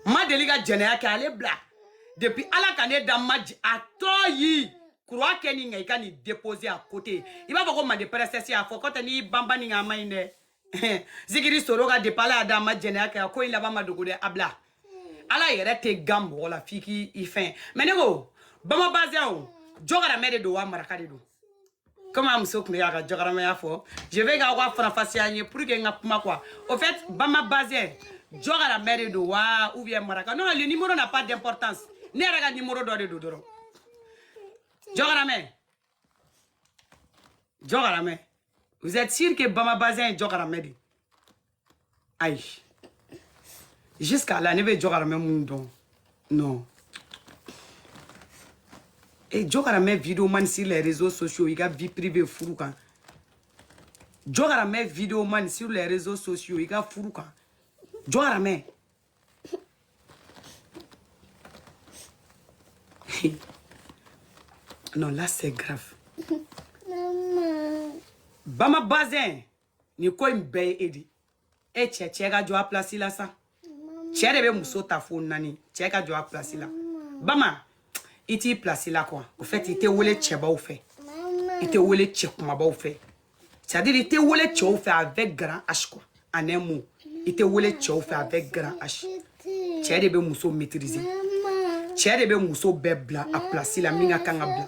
ma deli ka jɛnɛya kɛ ale bila depuis ala ka ne da ma a tɔ yi croix kɛ nin kan i ka nin déposer à côté i b'a fɔ ko mande princesse a fɔ ko tɛ n'i banba ni nka a ma ɲi dɛ zikiri solo ka depuis ala y'a da ma jɛnɛya kɛ a ko in laban ma dogo dɛ a bila ala yɛrɛ tɛ gan mɔgɔ la f'i k'i fɛn mais ne ko bama bazin o jɔgaramɛ de don wa maraka de don comme a muso tun bɛ k'a ka jɔkaramɛya fɔ je veux k'aw k'a faranfasiya n ye pour que n ka kuma quoi au fait bama bazin jɔkaramɛ de don wa ou bien maraka non le numéro n'a pas d'importance ne yɛrɛ ka numéro dɔ de don dɔrɔn jɔkaramɛ jɔkaramɛ vous êtes sûr que bama bazin ye jɔkaramɛ de ye ayi jusqu'à là ne bɛ jɔkaramɛ min dɔn non e jɔkaramɛ vidéo man sur les réseaux sociaux i ka vie privée furu kan jɔkaramɛ vidéo man sur les réseaux sociaux i ka furu kan jɔkaramɛ non là c'est grave. Bama Bazin. nin ko in bɛɛ ye e de e cɛ cɛ ka jɔ a place la sa cɛ de bɛ muso ta fo naani cɛ ka jɔ a place la bama i t'i place la quoi au fait i tɛ wele cɛbaw fɛ i tɛ wele cɛ kumabaw fɛ c'est-à-dire i tɛ wele cɛw fɛ avec grand h quoi en un mot i tɛ wele cɛw fɛ avec grand h cɛ de bɛ muso maîtriser cɛ de bɛ muso bɛɛ bila a place la min ka kan ka bila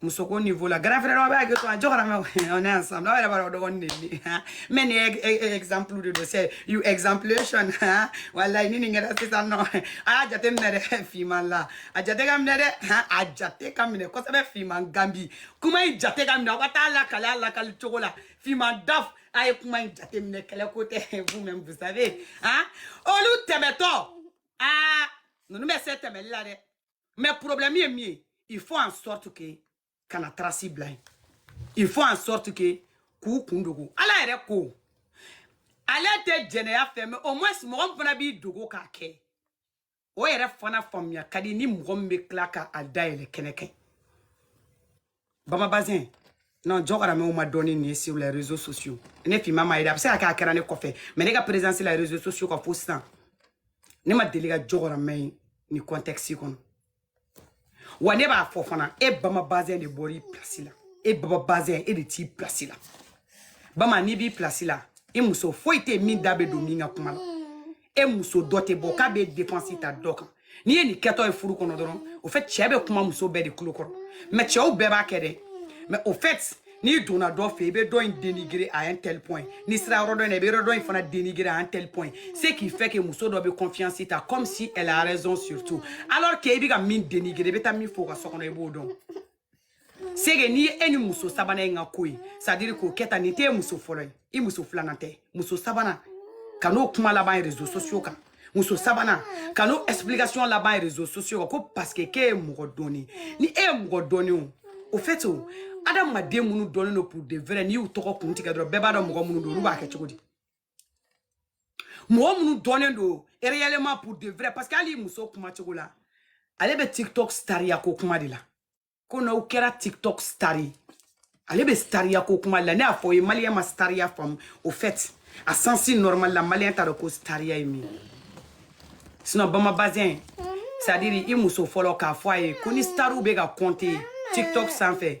muso ko niveau la grand frère b'a kɛ to a jɔkaramɛ on est ensemble aw yɛrɛ b'a dɔn o dɔgɔnin de ye ne mais nin ye exemple de don c'est you exemplation walayi ni nin kɛra sisan non a y'a jate minɛ dɛ finman la a jate ka minɛ dɛ a jate ka minɛ kosɛbɛ finman ganbi kuma in jate ka minɛ aw ka taa lakali a lakali cogo la finman daf a ye kuma in jate minɛ kɛlɛ ko tɛ vous même vous savez olu tɛmɛtɔ aa ninnu bɛ se tɛmɛli la dɛ Mais problème ye mun ye. Il faut en sorte que kana trace bila yen il faut en sorte que k'u kun dogo ala yɛrɛ ko ale tɛ jɛnɛya fɛ mais au moins mɔgɔ min fana b'i dogo k'a kɛ o yɛrɛ fana faamuya ka di ni mɔgɔ min bɛ tila ka a dayɛlɛ kɛnɛ kan bama bazin non jɔkaramɛw ma dɔn ni nin ye sur les réseaux sociaux ne finman m'a ye dɛ a bɛ se ka kɛ a kɛra ne kɔfɛ mais ne ka présence la réseaux sociaux ka fo sisan ne ma deli ka jɔkaramɛ ye nin contexte kɔnɔ wa ne b'a fɔ fana e bama bazin de bɔra i place la e bama bazin e de t'i place la bama n'i b'i place la i muso foyi tɛ yen min da bɛ don min ka kuma la e muso dɔ tɛ bɔ k'a bɛ défense ta dɔ kan n'i ye nin kɛtɔ ye furu kɔnɔ dɔrɔn au fait cɛ bɛ kuma muso bɛɛ de tulo kɔrɔ mais cɛw bɛɛ b'a kɛ dɛ mais au fait n'i donna dɔ fɛ i bɛ dɔ in dénigrer à un tel point n'i sera yɔrɔ dɔ in na i bɛ yɔrɔ dɔ in fana dénigrer à un tel point ce qui fait que muso dɔ bɛ confiance ta comme si elle a raison surtout alors que i bɛ ka min dénigrer i bɛ taa min fɔ o ka so kɔnɔ i b'o dɔn c'est que n'i ye e ni muso sabanan in ka ko ye c'est à dire k'o kɛ tan nin t'e muso fɔlɔ ye i muso filanan tɛ muso sabanan kan'o kuma laban réseaux sociaux kan muso sabanan kan'o explication laban réseaux sociaux kan ko parce que k'e ye mɔgɔ dɔnnen ni e ye mɔgɔ dɔnnen o au fait o adamaden minnu dɔnnen don pour de vrai n'i y'u tɔgɔ kun tigɛ dɔrɔn bɛɛ b'a dɔn mɔgɔ minnu don olu b'a kɛ cogo di mɔgɔ minnu dɔnnen don réellement pour de vrai parce que hali i muso kuma cogo la ale bɛ tiktok stariya ko kuma de la ko n'aw kɛra tiktok stari ale bɛ stariya ko kuma de la ne y'a fɔ o ye maliyɛn ma stariya faamu au fait a sens normal la maliyɛn t'a dɔn ko stariya ye min ye sinon bama bazɛn c'est à dire i muso fɔlɔ k'a fɔ a ye ko ni stariw bɛ ka compter tiktok sanfɛ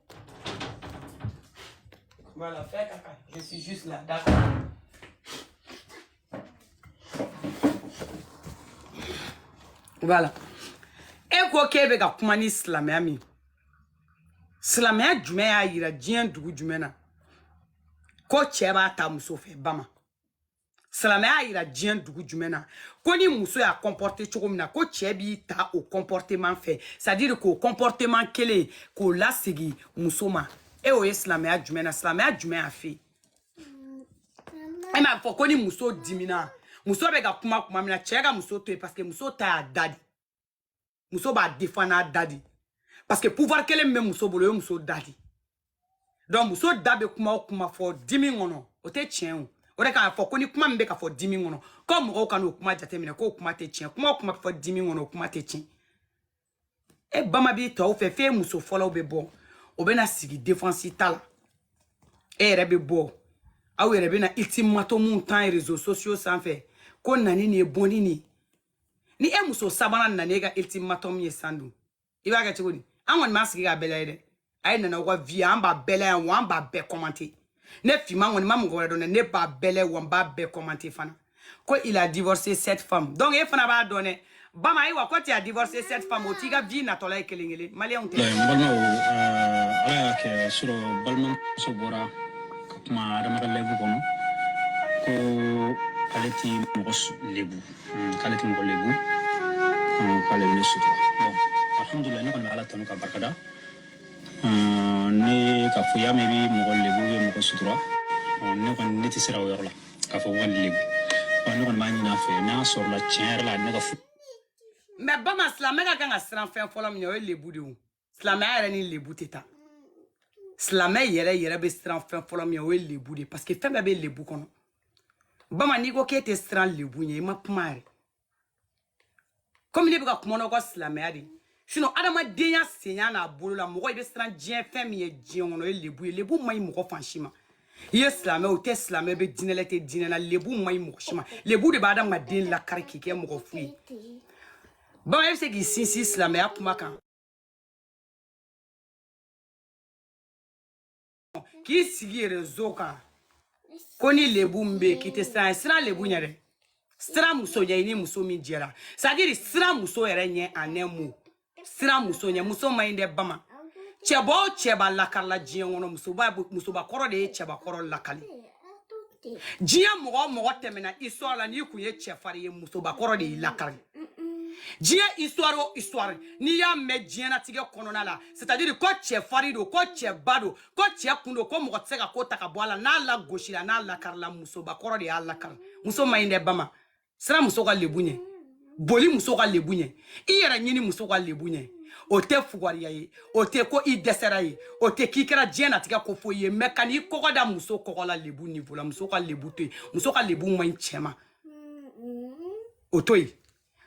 Voilà, fais caca. Je suis juste là, d'accord. Voilà. E ko k'e bɛ ka kuma ni silamɛya min silamɛya jumɛn y'a yira diɲɛ dugu jumɛn na ko cɛ b'a ta muso fɛ bama silamɛya y'a yira diɲɛ dugu jumɛn na ko ni muso y'a comporter cogo min na ko cɛ b'i ta o comportement fɛ c'est à dire k'o comportement kelen k'o lasegi muso ma e o ye silamɛya jumɛn na silamɛya jumɛn y'a f'e ye m'a fɔ ko ni muso dimina muso bɛ ka kuma kuma min na cɛ ka muso to yen parce que muso ta y'a da de muso b'a défend n'a da de parce que pouvoir kelen min bɛ muso bolo o ye muso da de donc muso da bɛ kuma o kuma fɔ dimi kɔnɔ o tɛ tiɲɛ o o de k'a fɔ ko ni kuma min bɛ ka fɔ dimi kɔnɔ ko mɔgɔw kan'o kuma jateminɛ k'o kuma tɛ tiɲɛ kuma o kuma bɛ fɔ dimi kɔnɔ o kuma tɛ tiɲɛ e bama b'i tɔw fɛ f'e muso fɔlɔ bɛ bɔ o bɛna sigi défense ta la e yɛrɛ bɛ bɔ aw yɛrɛ bɛna ultimatum ta réseaux sociaux sanfɛ ko nani nin ye bɔnni nin ye ni e muso sabanan nana e ka ultimatum ye san dun i b'a kɛ cogo di an kɔni b'an sigi k'a bɛɛ layɛ dɛ a ye na n'aw ka vie an b'a bɛɛ layɛ wa an b'a bɛɛ commenter ne fima kɔni ma mɔgɔ wɛrɛ dɔn dɛ ne b'a bɛɛ layɛ wa n b'a bɛɛ commenter fana ko il a divorcé cette femme donc e fana b'a dɔn dɛ bama ayiwa ko tu as divorcé cette femme o t'i ka vie natɔla ye kelen kelen maliyɛnw tɛ n balimaw euh, ala y'a kɛ sɔrɔ balimamuso bɔra ka kuma adamaden lebu kɔnɔ ko ale ti mɔgɔ lebu mm, k'ale tɛ mɔgɔ lebu mm, k'ale bɛ ne sutura bon alhamdulilayi ne kɔni bɛ ala tanu k'a barikada mm, ne k'a fɔ y'a mɛn i bɛ mɔgɔ lebu i bɛ mɔgɔ sutura ne kɔni ne tɛ siran o yɔrɔ la k'a fɔ wali lebu ne kɔni b'a ɲini a fɛ n'a sɔrɔla tiɲɛ yɛrɛ la ne ka furu mais bama silamɛ ka kan ka siran fɛn fɔlɔ min ɲɛ o ye lebu de ye silamɛya yɛrɛ ni lebu tɛ taa silamɛ yɛrɛ yɛrɛ bɛ siran fɛn fɔlɔ min ɲɛ o ye lebu de ye parce que fɛn bɛɛ bɛ lebu kɔnɔ bama n'i ko k'e tɛ siran lebu ɲɛ i ma kuma yɛrɛ comme ne bɛ ka kuma n'aw ka silamɛya de ye sinon adamadenya senya n'a bolo la mɔgɔ i bɛ siran diɲɛ fɛn min ɲɛ diɲɛ kɔnɔ o ye lebu ye lebu man ɲi mɔgɔ fan si ma i ye silamɛ o tɛ silamɛ i bɛ diinɛ la i tɛ diinɛ la lebu man ɲi mɔgɔ si ma lebu de bɛ adamaden lakari k'i kɛ mɔgɔ fu ye bama e bɛ se k'i sinsin silamɛya kuma kan k'i sigi réseau kan ko ni lebu min bɛ yen k'i tɛ siran siran lebu ɲɛ dɛ siran muso ɲɛ i ni muso min jɛra c'est à dire siran muso yɛrɛ ɲɛ en un mot siran muso ɲɛ muso man ɲi dɛ bama cɛba o cɛba lakarila diɲɛ kɔnɔ musobakɔrɔ de ye cɛbakɔrɔ lakari diɲɛ mɔgɔ o mɔgɔ tɛmɛna histoire la n'i kun ye cɛfarin ye musobakɔrɔ de y'i lakari diɲɛ histoire o histoire n'i y'a mɛn diɲɛnatigɛ kɔnɔna la c'est à dire ko cɛfarin don ko cɛba don ko cɛ kun don ko mɔgɔ tɛ se ka ko ta ka bɔ a la n'a lagosira n'a lakarila musobakɔrɔ de y'a lakari muso man ɲi dɛ bama siran muso ka lebu ɲɛ boli muso ka lebu ɲɛ i yɛrɛ ɲini muso ka lebu ɲɛ o tɛ fugariya ye o tɛ ko i dɛsɛra ye o tɛ k'i kɛra diɲɛnatigɛ ko foyi ye mais kan'i kɔgɔ da muso kɔgɔ la lebu niveau la muso ka lebu to yen muso ka lebu man ɲi cɛ ma o to yen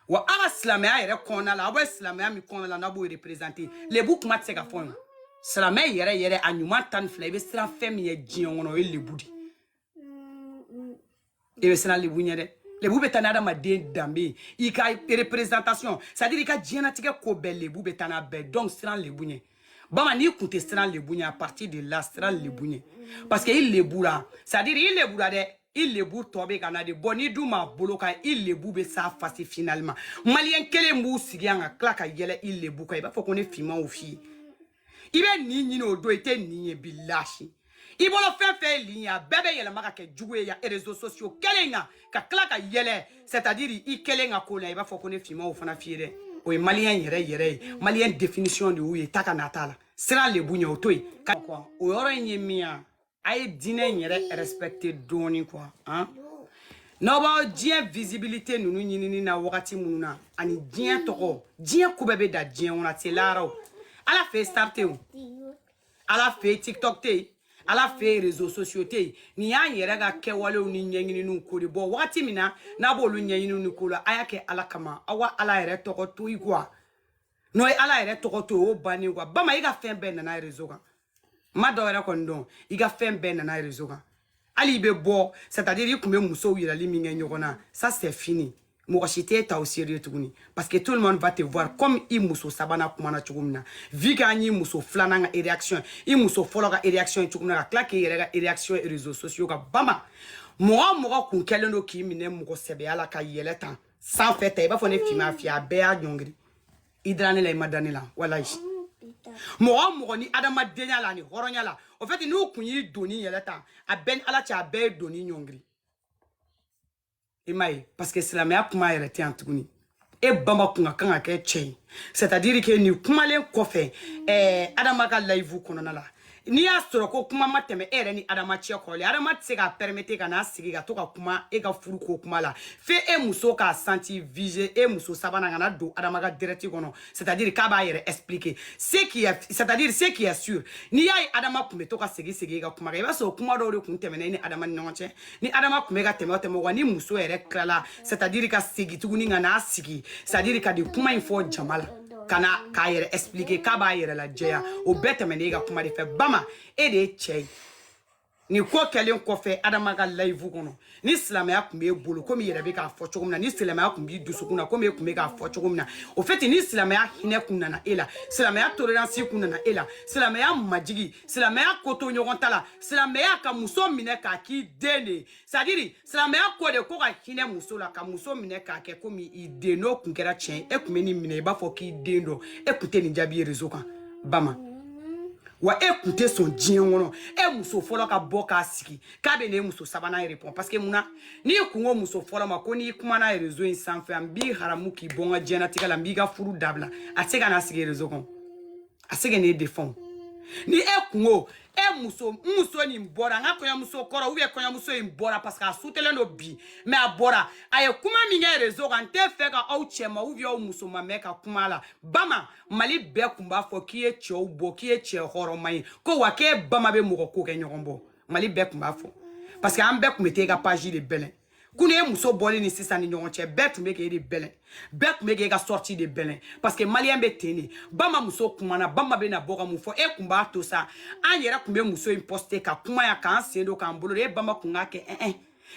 wa aw ka silamɛya yɛrɛ kɔnɔna la aw bɛ silamɛya min kɔnɔna la n'a b'o représenter lebu kuma tɛ se ka fɔ yen silamɛ yɛrɛ yɛrɛ a ɲuman tan ni fila i bɛ siran fɛn min ɲɛ diɲɛ kɔnɔ o ye lebu de e bɛ siran lebu ɲɛ dɛ lebu bɛ taa ni adamaden danbe ye i ka représentation c'est à dire i ka diɲɛnatigɛ ko bɛɛ lebu bɛ taa n'a bɛɛ donc siran lebu ɲɛ bama n'i kun tɛ siran lebu ɲɛ à partir de là siran lebu ɲɛ parce que i lebula c'est à dire i lebula dɛ i lebu tɔ bɛ ka na de bon n'i dun m'a bolo kan i lebu bɛ s'a fasi finalement maliyɛn kelen b'u sigi yan ka tila ka yɛlɛ i lebu kan i b'a fɔ ko ne finman y'o f'i ye i bɛ nin ɲini o don i tɛ nin ye b'i lâcher i bolo fɛn fɛn ye lien ye a bɛɛ bɛ yɛlɛma ka kɛ jugu ye yan réseaux sociaux kelen kan ka tila ka yɛlɛ c'est à dire i kelen ka ko la i b'a fɔ ko ne finman y'o fana f'i ye dɛ o ye maliyɛn yɛrɛ yɛrɛ ye maliyɛn définition de y'o ye taa ka na t'a la siran lebu ɲɛ o to yen o yɔrɔ in ye min ye a ye diinɛ in yɛrɛ respecte dɔɔni quoi han n'aw b'aw diɲɛ visibilité ninnu ɲinini na wagati minnu na ani diɲɛ tɔgɔ diɲɛ ko bɛɛ bɛ dan diɲɛ kɔnɔ a tɛ lahara o ala fɛ yen star tɛ yen ala fɛ yen tiktok tɛ yen ala fɛ yen réseaux sociaux tɛ yen nin y'an yɛrɛ ka kɛwalew ni ɲɛɲininiw ko de bɔ wagati min na n'a b'olu ɲɛɲininiw ni ko la a y'a kɛ ala kama aw ka ala yɛrɛ tɔgɔ to i quoi n'o ye ala yɛrɛ tɔgɔ to o bannen quoi bama i ka fɛn bɛɛ nana réseau kan ma dɔ yɛrɛ kɔni dɔn i ka fɛn bɛɛ nana réseau kan hali i bɛ bɔ c'est à dire i kun bɛ musow yirali min kɛ ɲɔgɔn na ça c'est fini mɔgɔ si t'e ta au sérieux tuguni parce que tout le monde va te voir comme i muso sabanan kumana cogo min na vu k'an y'i muso filanan ka réaction i muso fɔlɔ ka réaction ye cogo min na ka tila k'i yɛrɛ ka réaction ye réseaux sociaux kan bama mɔgɔ mɔgɔ kun kɛlen don k'i minɛ mɔgɔ sɛbɛya la ka yɛlɛn tan sanfɛ tan i b'a fɔ ne finma fi a bɛɛ y'a ɲɔngiri i dara ne la i ma da ne la walayi mɔgɔ mɔgɔ ni adamadenya la ani hɔrɔnya la au fait n'u kun y'i doni yɛlɛn tan a bɛ n ni ala cɛ a bɛɛ ye doni ɲɔngiri i m'a ye parce que silamɛya kuma yɛrɛ tɛ yan tuguni e bama kun ka kan ka kɛ cɛ ye c'est à dire que nin kumalen kɔfɛ ɛɛ adama ka live kɔnɔna la n'i y'a sɔrɔ ko kuma ma tɛmɛ e yɛrɛ ni adama cɛ kɔrɔlen adama tɛ se k'a permettre ka n'a sigi ka to ka kuma e ka furu ko kuma la fo e muso k'a senti visé e muso sabanan ka na don adama ka direct kɔnɔ c'est à dire k'a b'a yɛrɛ expliquer ce qui est c'est à dire ce qui est sûr n'i y'a ye adama kun bɛ to ka segin segin e ka kuma kan i b'a sɔrɔ kuma dɔw de kun tɛmɛna e ni adama ni ɲɔgɔn cɛ ni adama kun bɛ ka tɛmɛ tɛmɛ wa ni muso yɛrɛ tilala c'est-à-dire ka segin tuguni ka n'a sigi c'est-à-dire ka nin kuma in fɔ jama la ka na k'a yɛrɛ expliquer k'a b'a yɛrɛ lajɛya o bɛɛ tɛmɛnen e ka kuma de fɛ bama e de ye cɛ ye nin ko kɛlen kɔfɛ adama ka live kɔnɔ ni silamɛya kun b'e bolo komi i yɛrɛ bɛ k'a fɔ cogo min na ni silamɛya kun b'i dusukun na komi e kun bɛ k'a fɔ cogo min na au fait ni silamɛya hinɛ kun nana e la silamɛya tolérance kun nana e la silamɛya majigi silamɛya ko to ɲɔgɔn ta la silamɛya ka muso minɛ k'a k'i den de ye c'est-à-dire silamɛya ko de ko ka hinɛ muso la ka muso minɛ k'a kɛ komi i den n'o kun kɛra tiɲɛ e kun bɛ nin minɛ i b'a fɔ k'i den don e kun tɛ nin jaabi ye réseau kan bama wa e kun tɛ sɔn diɲɛ kɔnɔ e muso fɔlɔ ka bɔ k'a sigi k'a bɛ n'e muso sabanan répond parce que mun na n'i kun ko muso fɔlɔ ma ko n'i kumana réseau in sanfɛ an b'i haramu k'i bɔ n ka diɲɛnatigɛ la n b'i ka furu dabila a tɛ se ka n'a sigi réseau kan a tɛ se ka n'e défend ni e kun ko e muso n muso nin bɔra n ka kɔɲɔmuso kɔrɔ ou bien kɔɲɔmuso in bɔra parce que a sutelen don bi mais a bɔra a ye kuma min kɛ réseau kan n tɛ fɛ ka aw cɛman ou bien aw musoman mɛn ka kuma la bama mali bɛɛ kun b'a fɔ k'i ye cɛ bɔ k'i ye cɛ hɔrɔnma ye ko wa k'e bama bɛ mɔgɔ ko kɛ ɲɔgɔn bɔ mali bɛɛ kun b'a fɔ parce que an bɛɛ kun bɛ taa i ka page de bɛlɛn kunu ye muso bɔli ni sisan ni ɲɔgɔn cɛ bɛɛ tun bɛ k'e de bɛlɛn bɛɛ tun bɛ k'e ka sortie de bɛlɛn parce que maliyɛn bɛ ten de bama muso kumana bama bɛ na bɔ ka mun fɔ e kun b'a to sa an yɛrɛ kun bɛ muso in poster ka kuma yan k'an sen don k'an bolo don e bama kun k'a kɛ ɛn ɛn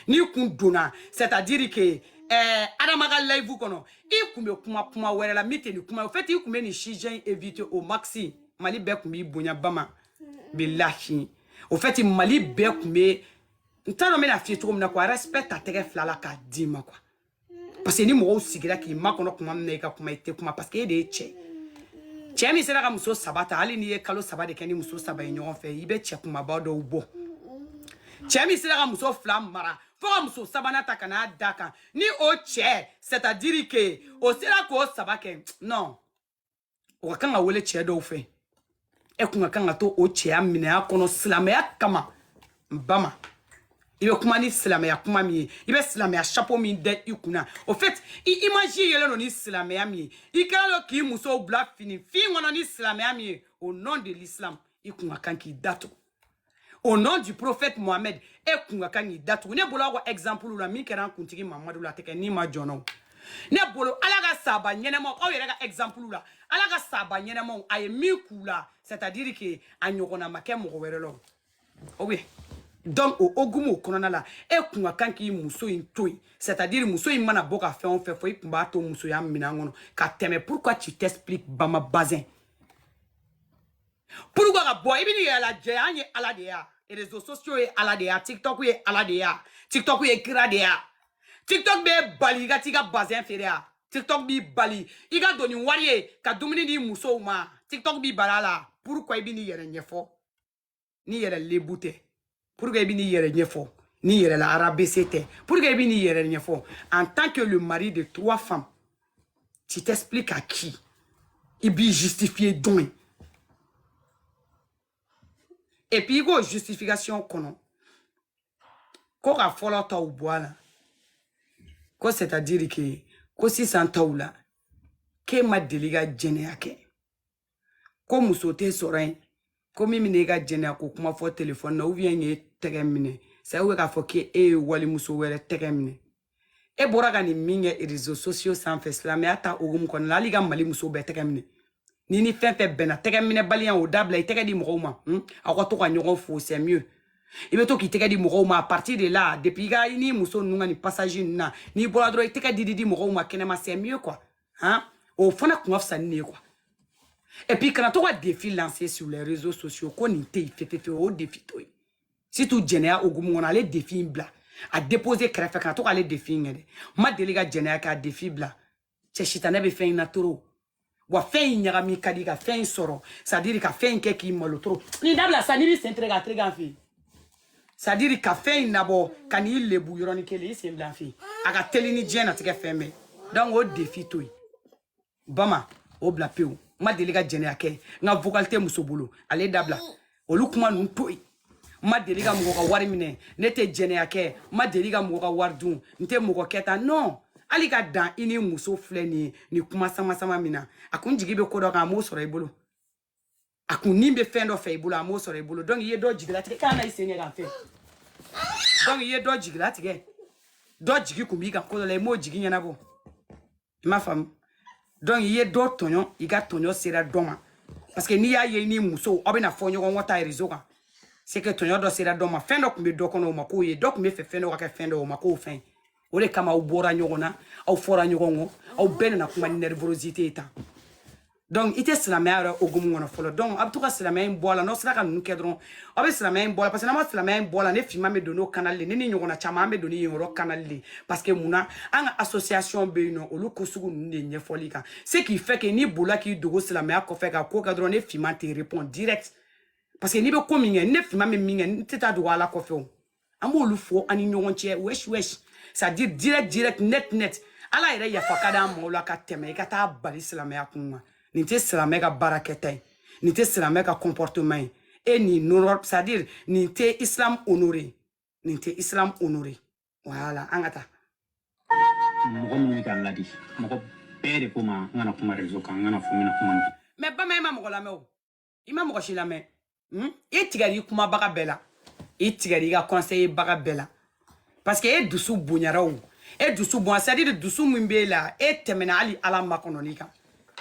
n'i kun donna c'est à dire que ɛɛ adama ka live kɔnɔ i kun bɛ kuma kuma wɛrɛ la min tɛ nin kuma ye au fait i kun bɛ nin sujet in éviter au maxi mali bɛɛ kun b'i bonya bama bilahi au fait mali bɛɛ kun bɛ n t'a dɔn n bɛna f'i ye cogo min na quoi respect ta tɛgɛ fila la k'a d'i ma quoi parce que ni mɔgɔw sigira k'i makɔnɔ kuma min na i ka kuma i tɛ kuma parce que e de ye cɛ cɛ min sera ka muso saba ta hali n'i ye kalo saba de kɛ ni muso saba ye ɲɔgɔn fɛ i bɛ cɛ kumaba dɔw bɔ cɛ min sera ka muso fila mara fo ka muso sabanan ta ka n'a da kan ni o cɛ c'est à dire que o sera k'o saba kɛ non o ka kan ka wele cɛ dɔw fɛ e kun ka kan ka to o cɛya minɛn kɔnɔ silamɛya kama bama i bɛ kuma ni silamɛya kuma min ye i bɛ silamɛya chapeau min da i kunna au fait i image yɛlɛ don ni silamɛya min ye i kɛra dɔ k'i musow bila fini fin kɔnɔ ni silamɛya min ye au nom de l'islam i kun ka kan k'i datugu au nom du prophète mohamed e kun ka kan k'i datugu ne bolo aw ka exemple la min kɛra an kuntigi mamadu la a tɛ kɛ nima jɔn na o ne bolo ala ka saba ɲɛnɛmaw aw yɛrɛ ka exemple la ala ka saba ɲɛnɛmaw a ye min k'u la c'est à dire que a ɲɔgɔnna ma kɛ mɔgɔ wɛrɛ la o o bɛ donc o hokumu kɔnɔna la e kun ka kan k'i muso in to yen c'est à dire muso in mana bɔ ka fɛn o fɛn fɔ i kun b'a to musoya minɛn kɔnɔ ka tɛmɛ pourquoi tu t'expliques bama bazin pourquoi ka bɔ i bɛ n'i yɛrɛ lajɛ an ye ala de ya réseaux sociaux ye ala de ya tiktok ye ala de ya tiktok ye kira de ya tiktok b'e bali i ka t'i ka bazin feere ya tiktok b'i bali i ka don ni wari ye ka dumuni di musow ma tiktok b'i bali a la pourquoi i bɛ n'i yɛrɛ ɲɛfɔ n'i yɛrɛ lebu tɛ pourquoi i bɛ n'i yɛrɛ ɲɛfɔ n'i yɛrɛ rabaisser tɛ pourquoi i bɛ n'i yɛrɛ ɲɛfɔ en tant que le mari de trois femmes tu t'expliques à qui i b'i justifier jɔn ye et puis i k'o justification kɔnɔ ko ka fɔlɔ taw bɔ a la ko c'est à dire que ko sisan taw la k'e ma deli ka jɛnɛya kɛ ko muso tɛ sɔrɔ yen ko min bɛna e ka jɛnɛya ko kuma fɔ telefɔni na ou bien k'e tɛgɛ minɛ sa i bɛ k'a fɔ k'e e ye walimuso wɛrɛ tɛgɛ minɛ e bɔra ka nin min kɛ réseaux sociaux sanfɛ silamɛya ta hukumu kɔnɔna la hali ka mali muso bɛɛ tɛgɛ minɛ ni ni fɛn fɛn bɛnna tɛgɛ minɛbaliya o dabila i tɛgɛ di mɔgɔw ma hmm? aw ka to ka ɲɔgɔn fo c'est mieux i bɛ to k'i tɛgɛ di mɔgɔw ma a partir de la depuis i ka i n'i muso ninnu ka nin passage ninnu na n'i bɔra dɔrɔn i tɛgɛ di di di mɔgɔw ma kɛnɛma c'est mieux quoi han o fana kun ka fisa ni ne ye quoi et puis kana to ka défi lancer sur les réseaux sociaux ko nin tɛ yen fefefe o défi to yen surtout jɛnɛya hokumu kɔnɔ ale défi in bila a dépose kɛrɛfɛ kana to k'ale défi in kɛ dɛ ma deli ka jɛnɛya kɛ a défi bila cɛ sitanɛ bɛ fɛn in na trop wa fɛn in ɲagami ka di ka fɛn in sɔrɔ c'est à dire ka fɛn in kɛ k'i malo trop nin dabila sa n'i bɛ sen tere k'a tere k'an fɛ yen c'est à dire ka fɛn in nabɔ ka n'i lebu yɔrɔnin kelen i sen bila fɛ a ka teli ni diɲɛ natigɛ fɛn bɛɛ donc o défi to yen bama o bila pewu n ma deli ka jɛnɛya kɛ n ka vocal tɛ muso bolo ale dabila olu kuma ninnu to yen n ma deli ka mɔgɔ ka wari minɛ ne tɛ jɛnɛya kɛ n ma deli ka mɔgɔ ka wari dun n tɛ mɔgɔ kɛ tan non hali ka dan i ni muso filɛ nin ye nin kuma sama sama min na a kun jigi bɛ ko dɔ kan a m'o sɔrɔ i bolo a kun ni bɛ fɛn dɔ fɛ i bolo a m'o sɔrɔ i bolo donc i ye dɔ jigilatigɛ k'a na i sen kɛ k'a fɛ donc i ye dɔ jigilatigɛ dɔ jigi kun b'i kan ko dɔ la i m'o jigi ɲɛnabɔ i m'a faamu donc i ye dɔ tɔɲɔ i ka tɔɲɔ sera dɔ ma parce que n'i y'a ye i n'i muso aw bɛna fɔ ɲɔgɔn kɔ tan réseau kan c'est que tɔɲɔ dɔ sera dɔ ma fɛn dɔ tun bɛ dɔ kɔnɔ o ma k'o ye dɔ tun b'a fɛ fɛn dɔ ka kɛ fɛn dɔ o ma k'o fɛn ye o de kama aw bɔra ɲɔgɔn na aw fɔra ɲɔgɔn kɔ aw bɛɛ nana kuma ni nervosité ye tan donc i tɛ silamɛya yɛrɛ hokumu kɔnɔ fɔlɔ donc a bɛ to ka silamɛya in bɔ a la n'aw sera ka ninnu kɛ dɔrɔn aw bɛ silamɛya in bɔ a la parce que n'an ma silamɛya in bɔ a la ne finman bɛ don n'o canal de ne ni ɲɔgɔnna caman an bɛ don ni yen yɔrɔ canal de parce que mun na an ka association bɛ yen nɔ olu ko sugu ninnu de ɲɛfɔli kan ce qui fait que n'i bolila k'i dogo silamɛya kɔfɛ ka ko kɛ dɔrɔn ne finman tɛ répond direct parce que n'i bɛ ko min kɛ ne finman bɛ min kɛ n tɛ taa dogo ala kɔfɛ o an b'olu fɔ an ni ɲɔgɔn cɛ wesh wesh c'est à dire direct direct net net ala yɛrɛ yafa ka d'an ma o la ka tɛmɛ i ka taa bali silamɛya kun kan nin tɛ silamɛ ka baarakɛta ye nin tɛ silamɛ ka comportement ye e ni nɔrɔ c'est à dire nin tɛ islam honore nin tɛ islam honore voilà an ka taa mɔgɔ min ye ka ladi mɔgɔ bɛɛ de ko ma n kana kuma réseau kan n kana fɔ n bɛna kuma mais bama i ma mɔgɔ lamɛn o i ma mɔgɔ si lamɛn hmm? i tigɛr'i kumabaga bɛɛ la i tigɛr'i ka conseiller baga bɛɛ la parce que e dusu bonyara o e dusu bonya c'est à dire dusu min b'e la e tɛmɛna hali ala makɔnɔni kan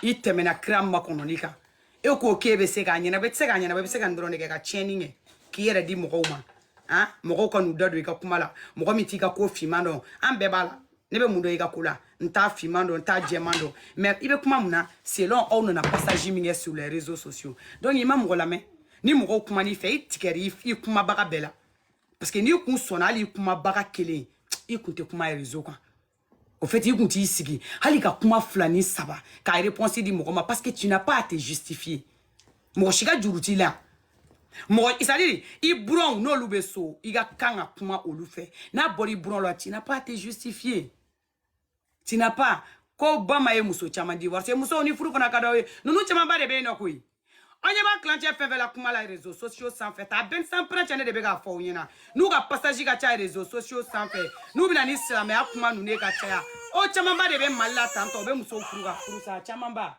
i tɛmɛna kira makɔnɔni kan e k'o k'e bɛ se k'a ɲɛnabɔ i tɛ se k'a ɲɛnabɔ i bɛ se ka nin dɔrɔn de kɛ ka tiɲɛni kɛ k'i yɛrɛ di mɔgɔw ma han mɔgɔw ka n'u da don i ka kuma la mɔgɔ min t'i ka ko finman dɔn an bɛɛ b'a la ne bɛ mun dɔn i ka ko la n t'a finman dɔn n t'a jɛman dɔn mais i bɛ kuma mun na selon aw nana passage min kɛ sur les réseaux sociaux donc i ma mɔgɔ lamɛn ni mɔgɔw kuman'i fɛ i tigɛra i kumabaga bɛɛ la parce que n'i kun sɔnna hali i kumabaga kelen i kun tɛ kuma réseau kan au fait i kun t'i sigi hali ka kuma fila ni saba ka réponse di mɔgɔ ma parce que tu n'as pas à te justifier mɔgɔ si ka juru t'i la mɔgɔ c'est-à-dire i buranw n'olu bɛ so i ka kan ka kuma olu fɛ n'a bɔra i buranw la tu n'as pas à te justifier tu n'as pas ko bama ye muso caman divorcer musow ni furu fana ka d'aw ye ninnu camanba de bɛ yen nɔ koyi an ɲɛ b'a tilancɛ fɛn fɛn la kuma la réseaux sociaux sanfɛ ta bɛn san pɛrɛncɛ ne de bɛ k'a fɔ aw ɲɛna n'u ka passage ka ca réseaux sociaux sanfɛ n'u bɛ na ni silamɛya kuma ninnu ye ka caya o camanba de bɛ mali la tantɔ u bɛ musow furu ka furu sa camanba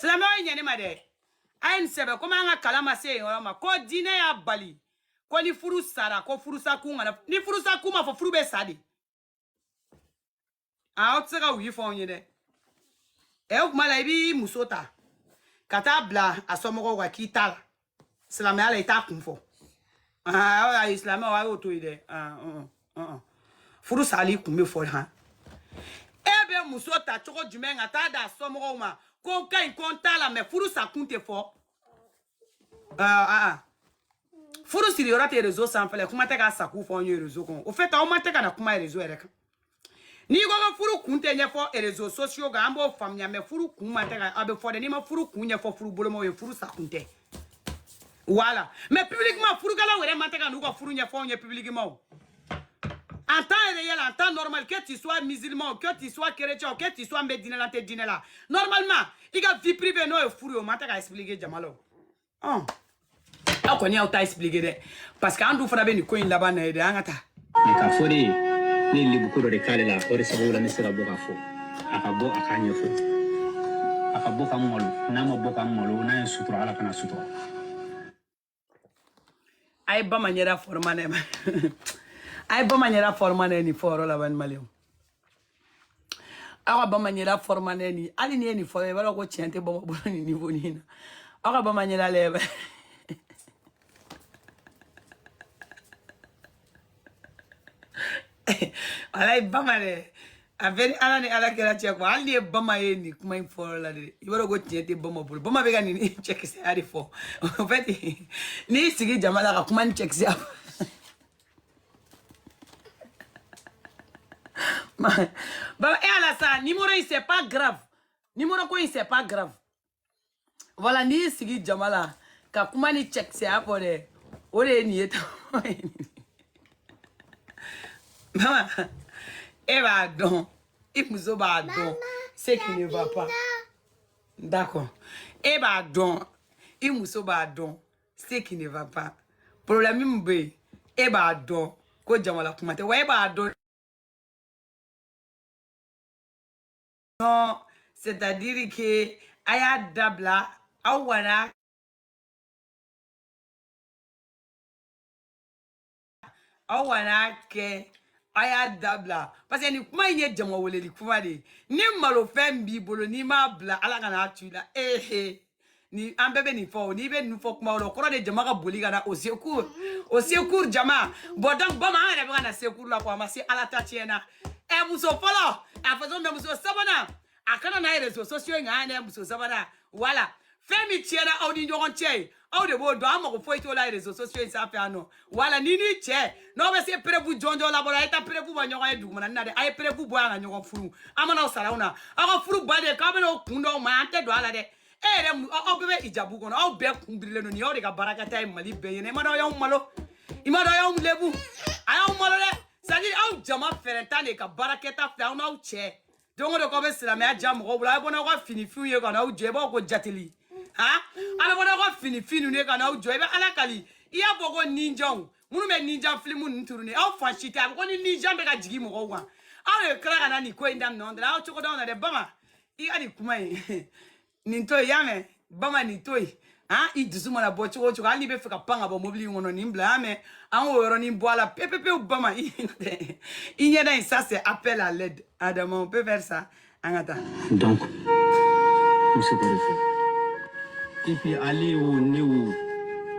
silamɛw ye ɲɛ ne ma dɛ a ye nin sɛbɛn komi an ka kalan ma se yen yɔrɔ ma ko diinɛ y'a bali ko ni furu sara ko furusakun kana ni furusakun ma fɔ furu bɛ sa de a aw tɛ se ka wuyi fɔ anw ye dɛ ɛ o tuma la i b'i muso ta ka taa bila a somɔgɔw kan k'i t'a la silamɛya la i t'a kun fɔ aa silamɛw a y'o to yen dɛ furu sali kun bɛ fɔ han e bɛ muso ta cogo jumɛn ka taa d'a somɔgɔw ma ko n ka ɲi ko n t'a la mɛ furu sa kun tɛ fɔ aa furu siriyɔrɔ tɛ rezo sanfɛ kuma tɛ k'a sakun fɔ anw ye rezo kɔnɔ en fait aw ma tɛ ka na kuma rezo yɛrɛ kan n'i ko ka furu kun tɛ ɲɛfɔ réseaux sociaux kan an b'o faamuya mɛ furu kun ma tɛ ka a bɛ fɔ dɛ n'i ma furu kun ɲɛfɔ furu bolomaw ye furu sa kun tɛ voilà mais publiquement furukɛlaw yɛrɛ ma tɛ ka n'u ka furu ɲɛfɔ anw ye publiquement en temps réel en temps normal que tu sois musulman que tu sois chrétien que tu sois n bɛ diinɛ la n tɛ diinɛ la normalement i ka vie privée n'o ye furu ye o ma tɛ ka expliquer jama la o ɔn aw kɔni y'aw ta expliqué dɛ parce que an dun fana bɛ nin ko in laban na ye dɛ an ka taa mɛ k'a fɔ de ye ne ye lebuko dɔ de k'ale la o de sababu la ne sera bɔ k'a fɔ a ka bɔ a k'a ɲɛfɔ a ka bɔ ka n malo n'a ma bɔ ka n malo n'a ye sutura ala kan'a sutura a ye bama ɲɛda fɔrɔmanɛ a ye bama ɲɛda fɔrɔmanɛ nin fɔyɔrɔ laban ni maliyɛnw aw ka bama ɲɛda fɔrɔmanɛ ni hali ni ye nin fɔ i b'a dɔn ko tiɲɛ tɛ bama bolo nin nivo nin na aw ka bama ɲɛda lebu ala ye bama dɛ a bɛ ni ala ni ala kɛra cɛ kɔ hali ni ye bama ye nin kuma in fɔlɔ la de i b'a dɔn ko tiɲɛ tɛ bama bolo bama bɛ ka nin cɛkisɛya de fɔ en fait n'i y'i sigi jama la ka kuma ni cɛkisɛya fɔ ba e eh, ala sa numéro yi c'est pas grave numéro ko yi c'est pas grave voilà n'i y'i sigi jama la ka kuma ni cɛkisɛya fɔ dɛ o de ye nin ye tan mama e b'a dɔn i muso b'a dɔn ce qui ne va pas d'accord e b'a dɔn i muso b'a dɔn ce qui ne va pas problème min bɛ yen e b'a dɔn ko jama la kuma tɛ wa e b'a dɔn non c'est à dire que a y'a dabila aw kana aw kan'a kɛ a y'a dabila parce que nin kuma in ye jama weleli kuma de ye ni malofɛn b'i bolo n'i m'a bila ala kan'a to i la ehe ni an bɛɛ bɛ nin fɔ o n'i bɛ nin fɔ kuma o la o kɔrɔ de jama ka boli ka na au secours au secours jama bɔ donc bama an bɛ ka na secours la ko a ma se ala ta tiɲɛ na ɛ muso fɔlɔ a façon bɛ muso sabanan a kana na réseaux sociaux in kan n'a ye muso sabanan voilà fɛn min tiɲɛna aw ni ɲɔgɔn cɛ ye aw de b'o dɔn an mago foyi t'o la réseaux sociaux in sanfɛ yan non voilà ni ni tiɲɛ n'aw bɛ se preuve jɔnjɔn labɔ la a ye taa preuve bɔ ɲɔgɔn ye dugumana na dɛ a ye preuve bɔ yan ka ɲɔgɔn furu an mana aw sara aw na aw ka furu ba de k'aw bɛna o kun dɔw ma an tɛ don a la dɛ e yɛrɛ aw bɛɛ bɛ ijabu kɔnɔ aw bɛɛ kun birilen don nin y'aw de ka baarakɛta ye mali bɛɛ ɲɛna i m'a dɔn aw y'aw malo i m'a dɔn aw y'aw lebu a y'aw malo dɛ c'est à dire aw jama fɛɛrɛntan de ka baarakɛta filɛ aw n'aw cɛ don o don k'aw bɛ silamɛya ja mɔgɔw bolo a bɛ bɔ n'aw ka finifinw ye ka n'aw jɔ i b'aw ko jateli han a bɛ bɔ n'aw ka finifin ninnu ye ka n'aw jɔ i bɛ ala kali i y'a fɔ ko ninjaw minnu bɛ ninja filimu ninnu tourner aw fan si tɛ a bɛ ko ni ninja bɛ ka jigin mɔgɔw kan aw de tila ka na nin ko in daminɛ anw da la aw cogo d'anw na dɛ bama i ka nin kuma in nin to yen i y'a mɛn bama nin to yen han i dusu mana bɔ cogo o cogo hali n'i bɛ fɛ ka pan ka bɔ mobili in kɔnɔ nin bila i y'a mɛn an k'o yɔrɔnin bɔ a la pepepewu bama i ɲɛda in ça c'est appel à l'aide adama on peut faire ça an ka taa donc n bɛ se k'o de fɔ et puis ale o ne o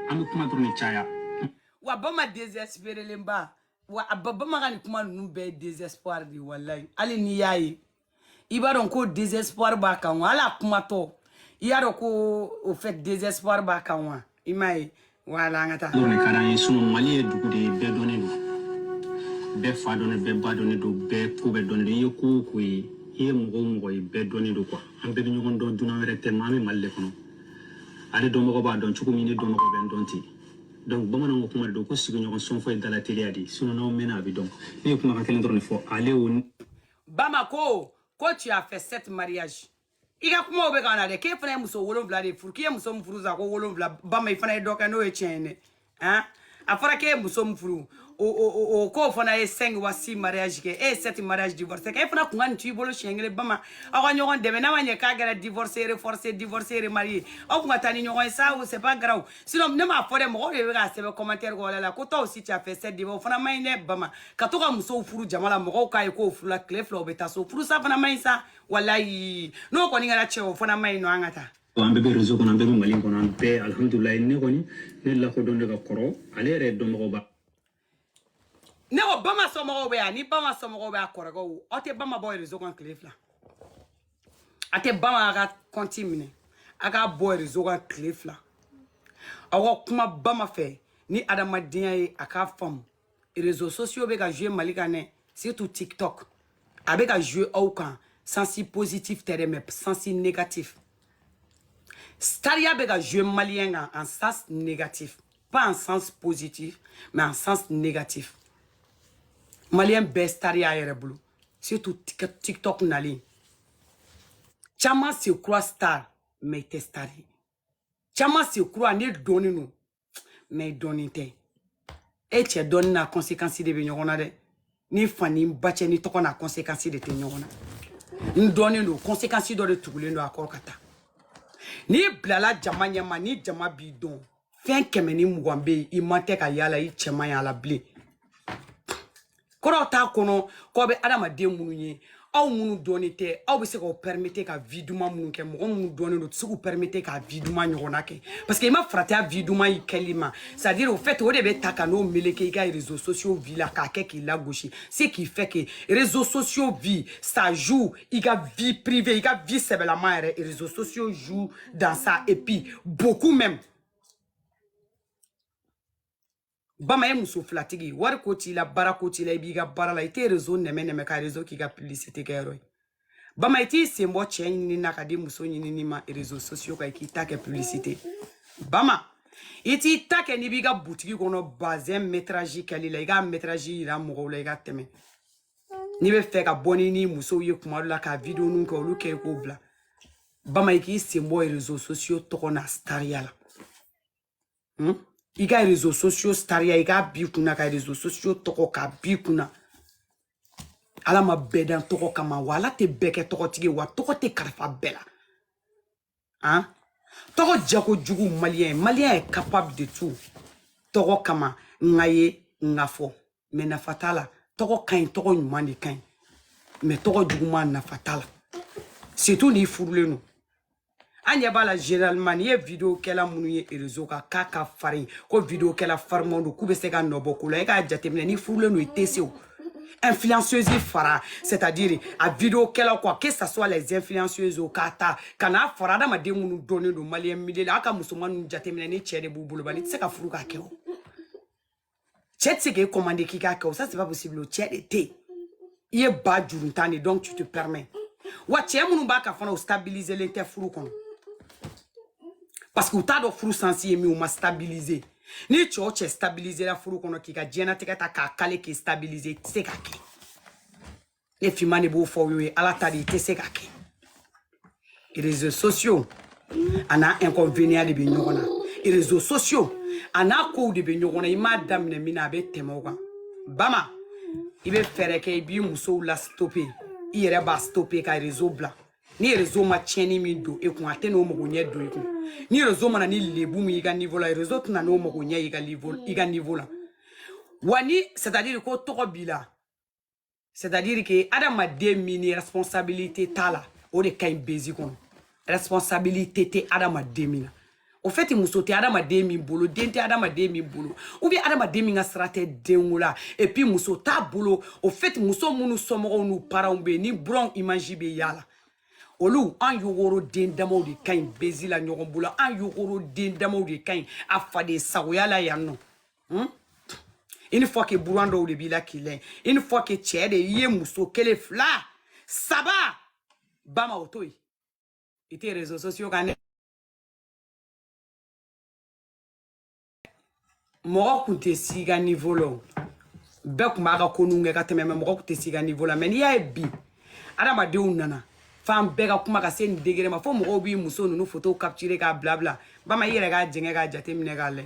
an bɛ kuma dɔrɔn de caya wa bama désespérélenba wa bama ka nin kuma ninnu bɛɛ ye désespoir de ye walayi hali n'i y'a ye i b'a dɔn ko désespoir b'a kan wa ale kumatɔ i y'a dɔn ko au fait désespoir b'a kan wa i m'a ye voilà an ka taa dɔrɔn de ka d'an ye sinon mali ye dugu de ye bɛɛ dɔnnen don bɛɛ fa dɔnnen bɛɛ ba dɔnnen don bɛɛ ko bɛɛ dɔnnen don i ye ko o ko ye i ye mɔgɔ o mɔgɔ ye bɛɛ dɔnnen don quoi an bɛɛ bɛ ɲɔgɔn dɔn dunan wɛrɛ tɛ ma an bɛ mali de kɔnɔ ale dɔnbagaw b'a dɔn cogo min ne dɔnbagaw bɛ n dɔn ten donc bamananw ka kuma de don ko sigiɲɔgɔn sɔnfɔ ye dalateliya de ye sinon n'aw mɛnna a bɛ dɔn ne ye kumakan kelen dɔrɔn de fɔ ale o bama ko ko tu as fait sept mariages i ka kumaw bɛ ka na dɛ k'e fana ye muso wolonwula de furu k'i ye muso min furu sa ko wolonwula bama i fana ye dɔ kɛ n'o ye tiɲɛ ye dɛ han a fɔra k'e ye muso min furu o o o k'o fana ye cinq wa six mariage kɛ e ye sept mariage divorce kɛ e fana kun ka nin t'i bolo siɲɛ kelen bama aw ka ɲɔgɔn dɛmɛ n'a ma ɲɛ k'a kɛra divorcé reforcé divorcé remarié aw kun ka taa ni ɲɔgɔn ye sa o c'est pas grave sinon ne m'a fɔ dɛ mɔgɔw de bɛ k'a sɛbɛn commentaire kɔrɔla la ko toi aussi tu as fait sept divorces o fana man ɲi dɛ bama ka to ka musow furu jama la mɔgɔw k'a ye k'o furula tile fila o bɛ taa so furusa fana man ɲi sa walayi n'o kɔni kɛra cɛn o fana man ɲi non an ka taa an bɛɛ bɛ réseau kɔnɔ an bɛɛ bɛ mali kɔnɔ an bɛɛ alhamdulilayi ne kɔni ne lakodɔn de ka kɔrɔ ale yɛrɛ dɔnbagaw ba ne ko bama somɔgɔw bɛ yan ni bama somɔgɔw bɛ a kɔrɔkɛw aw tɛ bama bɔ rezo kan tile fila a tɛ bama a ka kɔnti minɛ a k'a bɔ rezo kan tile fila aw ka kuma bama fɛ ni adamadenya ye a k'a faamu rezo sosiyo bɛ ka jouer mali kan dɛ surtout tiktok a bɛ ka jouer aw kan sensi positif tɛ dɛ mais sensi négatif stariya bɛ ka jouer maliyɛn kan en sens négatif pas en sens positif mais en sens négatif maliyɛn bɛɛ stari y'a yɛrɛ bolo surtout tiktok nalen caman se croit star mais i tɛ star ye caman se croit ne dɔnnen don mais i dɔnnen tɛ e cɛ dɔnni n'a conséquence de bɛ ɲɔgɔn na dɛ ni fa ni ba cɛ ni tɔgɔ n'a kɔnsekansi de tɛ ɲɔgɔn na n dɔnnen don kɔnsekansi dɔ de tugulen don a kɔrɔ ka taa n'i bilala jama ɲɛma ni jama b'i dɔn fɛn kɛmɛ ni mugan bɛ yen i ma tɛ ka yala i cɛ man y'a la bilen kɔrɔ t'a kɔnɔ k'aw bɛ adamaden minnu ye aw minnu dɔnnen tɛ aw bɛ se k'aw pɛrimete ka vi duman minnu kɛ mɔgɔ minnu dɔnnen don u tɛ se k'u pɛrimete ka vi duman ɲɔgɔnna kɛ parce que i ma farati a vi duman in kɛli ma c'est à dire au fait o de bɛ ta ka n'o meleke i ka réseaux sociaux vie la k'a kɛ k'i lagosi ce qui fait que réseaux sociaux vie ça joue i ka vie privée i ka vie sɛbɛlama yɛrɛ réseaux sociaux joue dans ça et puis beaucoup même bama ye muso filatigi wari ko t'i la baara ko t'i la i b'i ka baara la i tɛ rezo nɛmɛ nɛmɛ ka rezo k'i ka publicité kɛ yɔrɔ ye bama i t'i sen bɔ cɛ ɲinini na ka di muso ɲinini ma rezo sosiyo kan i k'i ta kɛ publicité bama i t'i ta kɛ n'i b'i ka butigi kɔnɔ bazɛn metraji kɛli la i k'a metraji yira mɔgɔw la i ka tɛmɛ n'i bɛ fɛ ka bɔ ni ni musow ye kuma dɔ la ka videoninw kɛ olu kɛ i k'o bila bama i k'i sen bɔ rezo sosiyo tɔgɔ na stariya la Hmm? i ka réseaux sociaux stariya i k'a b'i kunna ka réseaux sociaux tɔgɔ k'a b'i kunna ala ma bɛɛ dan tɔgɔ kama wa ala tɛ bɛɛ kɛ tɔgɔtigi wa tɔgɔ tɛ kalifa bɛɛ la an tɔgɔ jako jugu maliyɛn maliyɛn est capable de tout tɔgɔ kama n k'a ye n k'a fɔ mais nafa t'a la tɔgɔ ka ɲi tɔgɔ ɲuman de ka ɲi mais tɔgɔ juguman nafa t'a la surtout n'i furulen don an ɲɛ b'a la généralement n'i ye vidéo kɛla minnu ye réseau kan k'a ka farin ko vidéo kɛla farimanw don k'u bɛ se ka nɔbɔ ko la e k'a jateminɛ n'i furulen don i tɛ se o influenceuse fara c'est à dire a vidéo kɛlaw quoi que ça soit les influenceuses o k'a ta ka n'a fara adamaden minnu dɔnnen don malien milieu la a ka musoman ninnu jateminɛ ni cɛ de b'u bolo bani i tɛ se ka furu k'a kɛ o Cɛ tɛ se k'e commander k'i k'a kɛ o ça c'est pas possible o cɛ de tɛ yen i ye ba juruntan de donc tu te permets wa cɛ minnu b'a kan fana u stabiliselen tɛ furu kɔnɔ parce que u t'a dɔn furu sens ye min u ma stabiliser ni cɛ o cɛ stabilisela furu kɔnɔ k'i ka diɲɛnatigɛ ta k'a caler k'i stabiliser i tɛ se k'a kɛ ne finman de b'o fɔ aw ye ala ta de i tɛ se k'a kɛ réseaux sociaux a n'a inconvénient de bɛ ɲɔgɔn na réseaux sociaux a n'a kow de bɛ ɲɔgɔn na i m'a daminɛ min na a bɛ tɛmɛ o kan Bama i bɛ fɛɛrɛ kɛ i b'i musow la stopper i yɛrɛ b'a stopper ka réseau bila ni réseau ma tiɲɛni min don e kun a tɛn'o mago ɲɛ don i kun ni réseau mana ni lebu min i ka niveau la réseau tɛna n'o mago ɲɛ i ka niveau la wa ni c'est à dire ko tɔgɔ b'i la c'est à dire que adamaden min ni responsabilité t'a la o de ka ɲi buzz kɔnɔ responsabilité tɛ adamaden min na au fait muso tɛ adamaden min bolo den tɛ adamaden min bolo ou bien adamaden min ka sira tɛ denko la et puis muso t'a bolo au fait muso minnu somɔgɔw n'u parents bɛ yen ni buranw image bɛ y'a la olu an yogoro den damaw de ka ɲi buzz la ɲɔgɔn bolo an yogoro den damaw de ka ɲi a faden sagoya la yan nɔ Une fois que buran dɔw de b'i la k'i lɛ une fois que cɛ de i ye muso kelen fila saba Bama o to yen i tɛ réseaux sociaux kan dɛ mɔgɔ kun tɛ s'i ka niveau la o bɛɛ kun b'a ka ko ninnu kɛ ka tɛmɛ mais mɔgɔ kun tɛ s'i ka niveau la mais n'i y'a ye bi adamadenw nana fan bɛɛ ka kuma ka se nin degré ma fo mɔgɔw b'i muso ninnu fotow capturer k'a bila bila Bama i yɛrɛ k'a jɛngɛ k'a jateminɛ k'a lɛ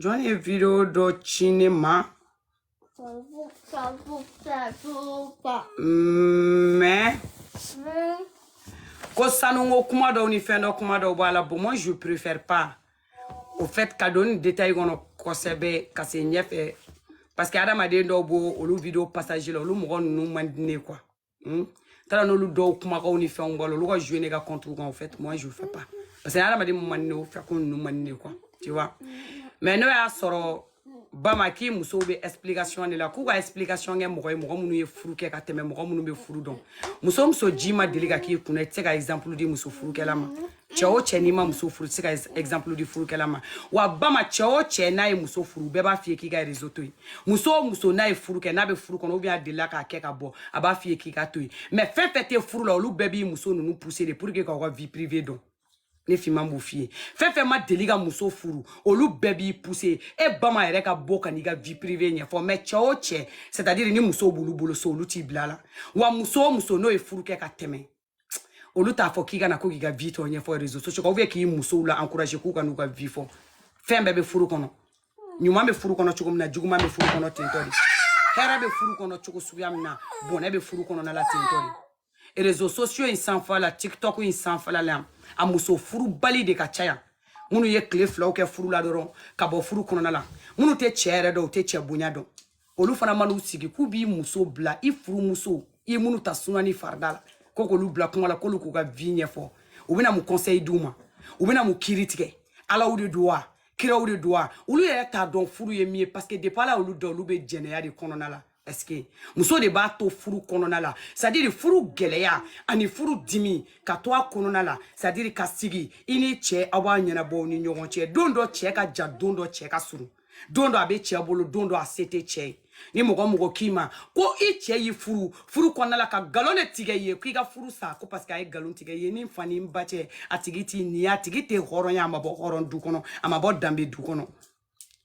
jɔn ye vidéo dɔ ci ne ma mais ko sanuko kuma dɔw ni fɛn dɔ kuma dɔw b'a la bon moi je préfère pas au fait ka don ni détail kɔnɔ kosɛbɛ ka se ɲɛfɛ parce que adamaden dɔw b'o olu vidéo passage la olu mɔgɔ ninnu man di ne quoi taara n'olu dɔw kumakanw ni fɛnw bɔ la olu ka jouer ne ka compte kan au fait moi je fais pas parce que adamaden mun man di ne o fɛ ko ninnu man di ne quoi tu vois mais n'o y'a sɔrɔ Bama k'i musow bɛ explication de la k'u ka explication kɛ mɔgɔ ye mɔgɔ minnu ye furu kɛ ka tɛmɛ mɔgɔ minnu bɛ furu dɔn muso o muso ji ma deli ka k'i kunna i tɛ se ka exemple di muso furukɛla ma cɛ o cɛ n'i ma muso furu i tɛ se ka exemple di furukɛla ma wa bama cɛ o cɛ n'a ye muso furu bɛɛ b'a f'i ye k'i ka réseau to yen muso o muso n'a ye furu kɛ n'a bɛ furu kɔnɔ ou bien a delila k'a kɛ ka bɔ a b'a f'i ye k'i ka to yen mais fɛn fɛn tɛ furu la olu bɛɛ b'i muso ninnu pousser de pour que k'aw ka vie privée dɔn ne finman b'o f'i ye fɛn fɛn ma deli ka muso furu olu bɛɛ b'i pousser e bama yɛrɛ ka bɔ ka n'i ka vie privée ɲɛfɔ mais cɛ o cɛ c'est à dire ni muso b'olu bolo so olu t'i bil'a la wa muso o muso n'o ye furu kɛ ka tɛmɛ olu t'a fɔ k'i ka na ko k'i ka vie tɔ ɲɛfɔ réseaux sociaux kan ou bien k'i musow la encourager k'u ka n'u ka vie fɔ fɛn bɛɛ bɛ furu kɔnɔ ɲuman bɛ furu kɔnɔ cogo min na juguman bɛ furu kɔnɔ tentɔ de hɛrɛ bɛ furu kɔnɔ cogo suguya min na bɔnɛ bɛ furu kɔnɔna la tentɔ de réseaux sociaux in sanfɛla la tiktok in sanfɛla la a muso furubali de ka ca yan minnu ye tile filaw kɛ furu la dɔrɔn ka bɔ furu kɔnɔna la minnu tɛ cɛ yɛrɛ dɔn u tɛ cɛ bonya dɔn olu fana man'u sigi k'u b'i muso bila i furumuso i ye minnu ta suna ni farida la ko k'olu bila kuma la k'olu k'u ka vie ɲɛfɔ u bɛna mun conseil d'u ma u bɛna mun kiri tigɛ alaw de don wa kiraw de don wa olu yɛrɛ t'a dɔn furu ye min ye parce que depuis ala olu da olu bɛ jɛnɛya de kɔnɔna la est-ce que muso de b'a to furu kɔnɔna la c'est à dire furu gɛlɛya ani furu dimi ka to a kɔnɔna la c'est à dire ka sigi i ni cɛ aw b'a ɲɛnabɔ ni ɲɔgɔn cɛ don dɔ cɛ ka jan don dɔ cɛ ka surun don dɔ a bɛ cɛ bolo don dɔ a se tɛ cɛ ye ni mɔgɔ o mɔgɔ k'i ma ko i cɛ y'i furu furu kɔnɔna la ka nkalon de tigɛ i ye k'i ka furu sa ko parce que a ye nkalon tigɛ i ye ni fa ni n ba cɛ a tigi t'i ni a tigi tɛ hɔrɔn ye a ma bɔ hɔrɔn du kɔnɔ a ma bɔ danbe du kɔnɔ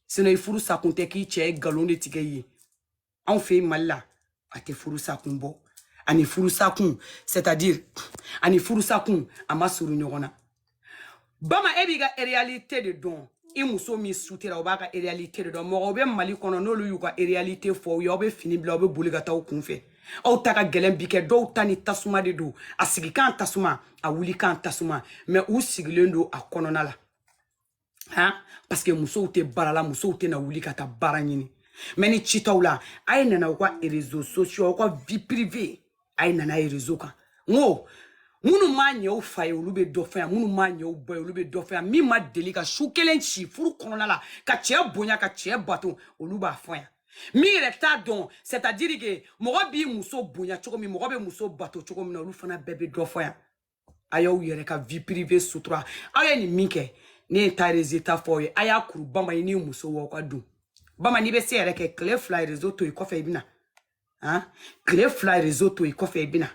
sinon i furu sakun tɛ k'i cɛ ye nkalon de tigɛ i ye anw fɛ yen mali la a tɛ furusakun bɔ ani furusakun c'est à dire ani furusakun a ma surun ɲɔgɔn na bama e b'i ka réalité de dɔn i muso min sutera o b'a ka réalité de dɔn mɔgɔw bɛ mali kɔnɔ n'olu y'u ka réalité fɔ aw ye aw bɛ fini bila aw bɛ boli ka taa aw kun fɛ aw ta ka gɛlɛn bi kɛ dɔw ta ni tasuma de don a sigikan tasuma a wulikan tasuma mais u sigilen don a kɔnɔna la han parce que musow tɛ baara la musow tɛna wuli ka taa baara ɲini mais ni citaw la a ye na n'aw ka réseaux sociaux aw ka vie privée a ye na n'a ye réseau kan n ko minnu ma ɲɛ u fa ye olu bɛ dɔ fɔ yan minnu ma ɲɛ u ba ye olu bɛ dɔ fɔ yan min ma deli ka su kelen si furu kɔnɔna la ka cɛ bonya ka cɛ bato olu b'a fɔ yan min yɛrɛ t'a dɔn c'est à dire que mɔgɔ b'i muso bonya cogo min mɔgɔ bɛ muso bato cogo min na olu fana bɛɛ bɛ dɔ fɔ yan a y'aw yɛrɛ ka vie privée sutura aw ye nin min kɛ ne ye ta résultat fɔ aw ye a y'a kuru bama e n'i musow aw ka don bama n'i bɛ se yɛrɛ kɛ tile fila réseau to i kɔfɛ i bɛna han tile fila réseau to i kɔfɛ i bɛna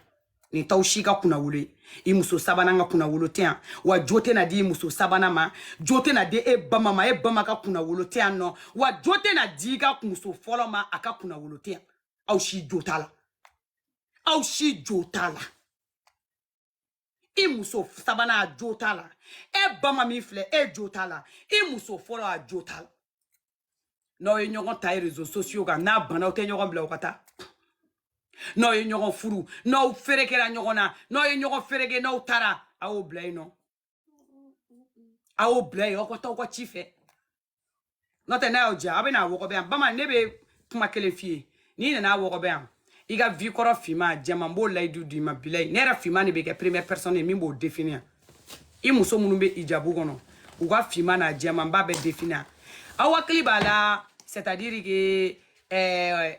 nin t'aw si ka kunnawolo ye i muso sabanan ka kunnawolo tɛ yan wa jo tɛna di i muso sabanan ma jo tɛna di e bama ma e bama ka kunnawolo tɛ yan nɔ wa jo tɛna di i ka muso fɔlɔ ma a ka kunnawolo tɛ yan aw si jo t'a la aw si jo t'a la i muso sabanan a jo t'a la e bama min filɛ e jo t'a la i muso fɔlɔ a jo t'a la n'aw ye ɲɔgɔn ta ye rezo sosiyo kan n'a bana aw tɛ ɲɔgɔn bila aw ka taa n'aw ye ɲɔgɔn furu n'aw ferekera ɲɔgɔn na n'aw ye ɲɔgɔn fereke n'aw taara a y'o bila yen nɔ a y'o bila yen aw ka taa aw ka ci fɛ n'o tɛ n'a y'aw diya aw bɛ n'a wɔgɔbɛ yan bama ne bɛ kuma kelen f'i ye n'i nana a wɔgɔbɛ yan i ka vi kɔrɔ finma jɛman n b'o layidu d'i ma bilayi ne yɛrɛ finma de bɛ kɛ première personne ye min b'o defini yan i muso minnu bɛ ijabu kɔnɔ u ka finma n'a jɛman n b'a bɛɛ defini yan aw hakili b'a la c'est à dire que ɛɛ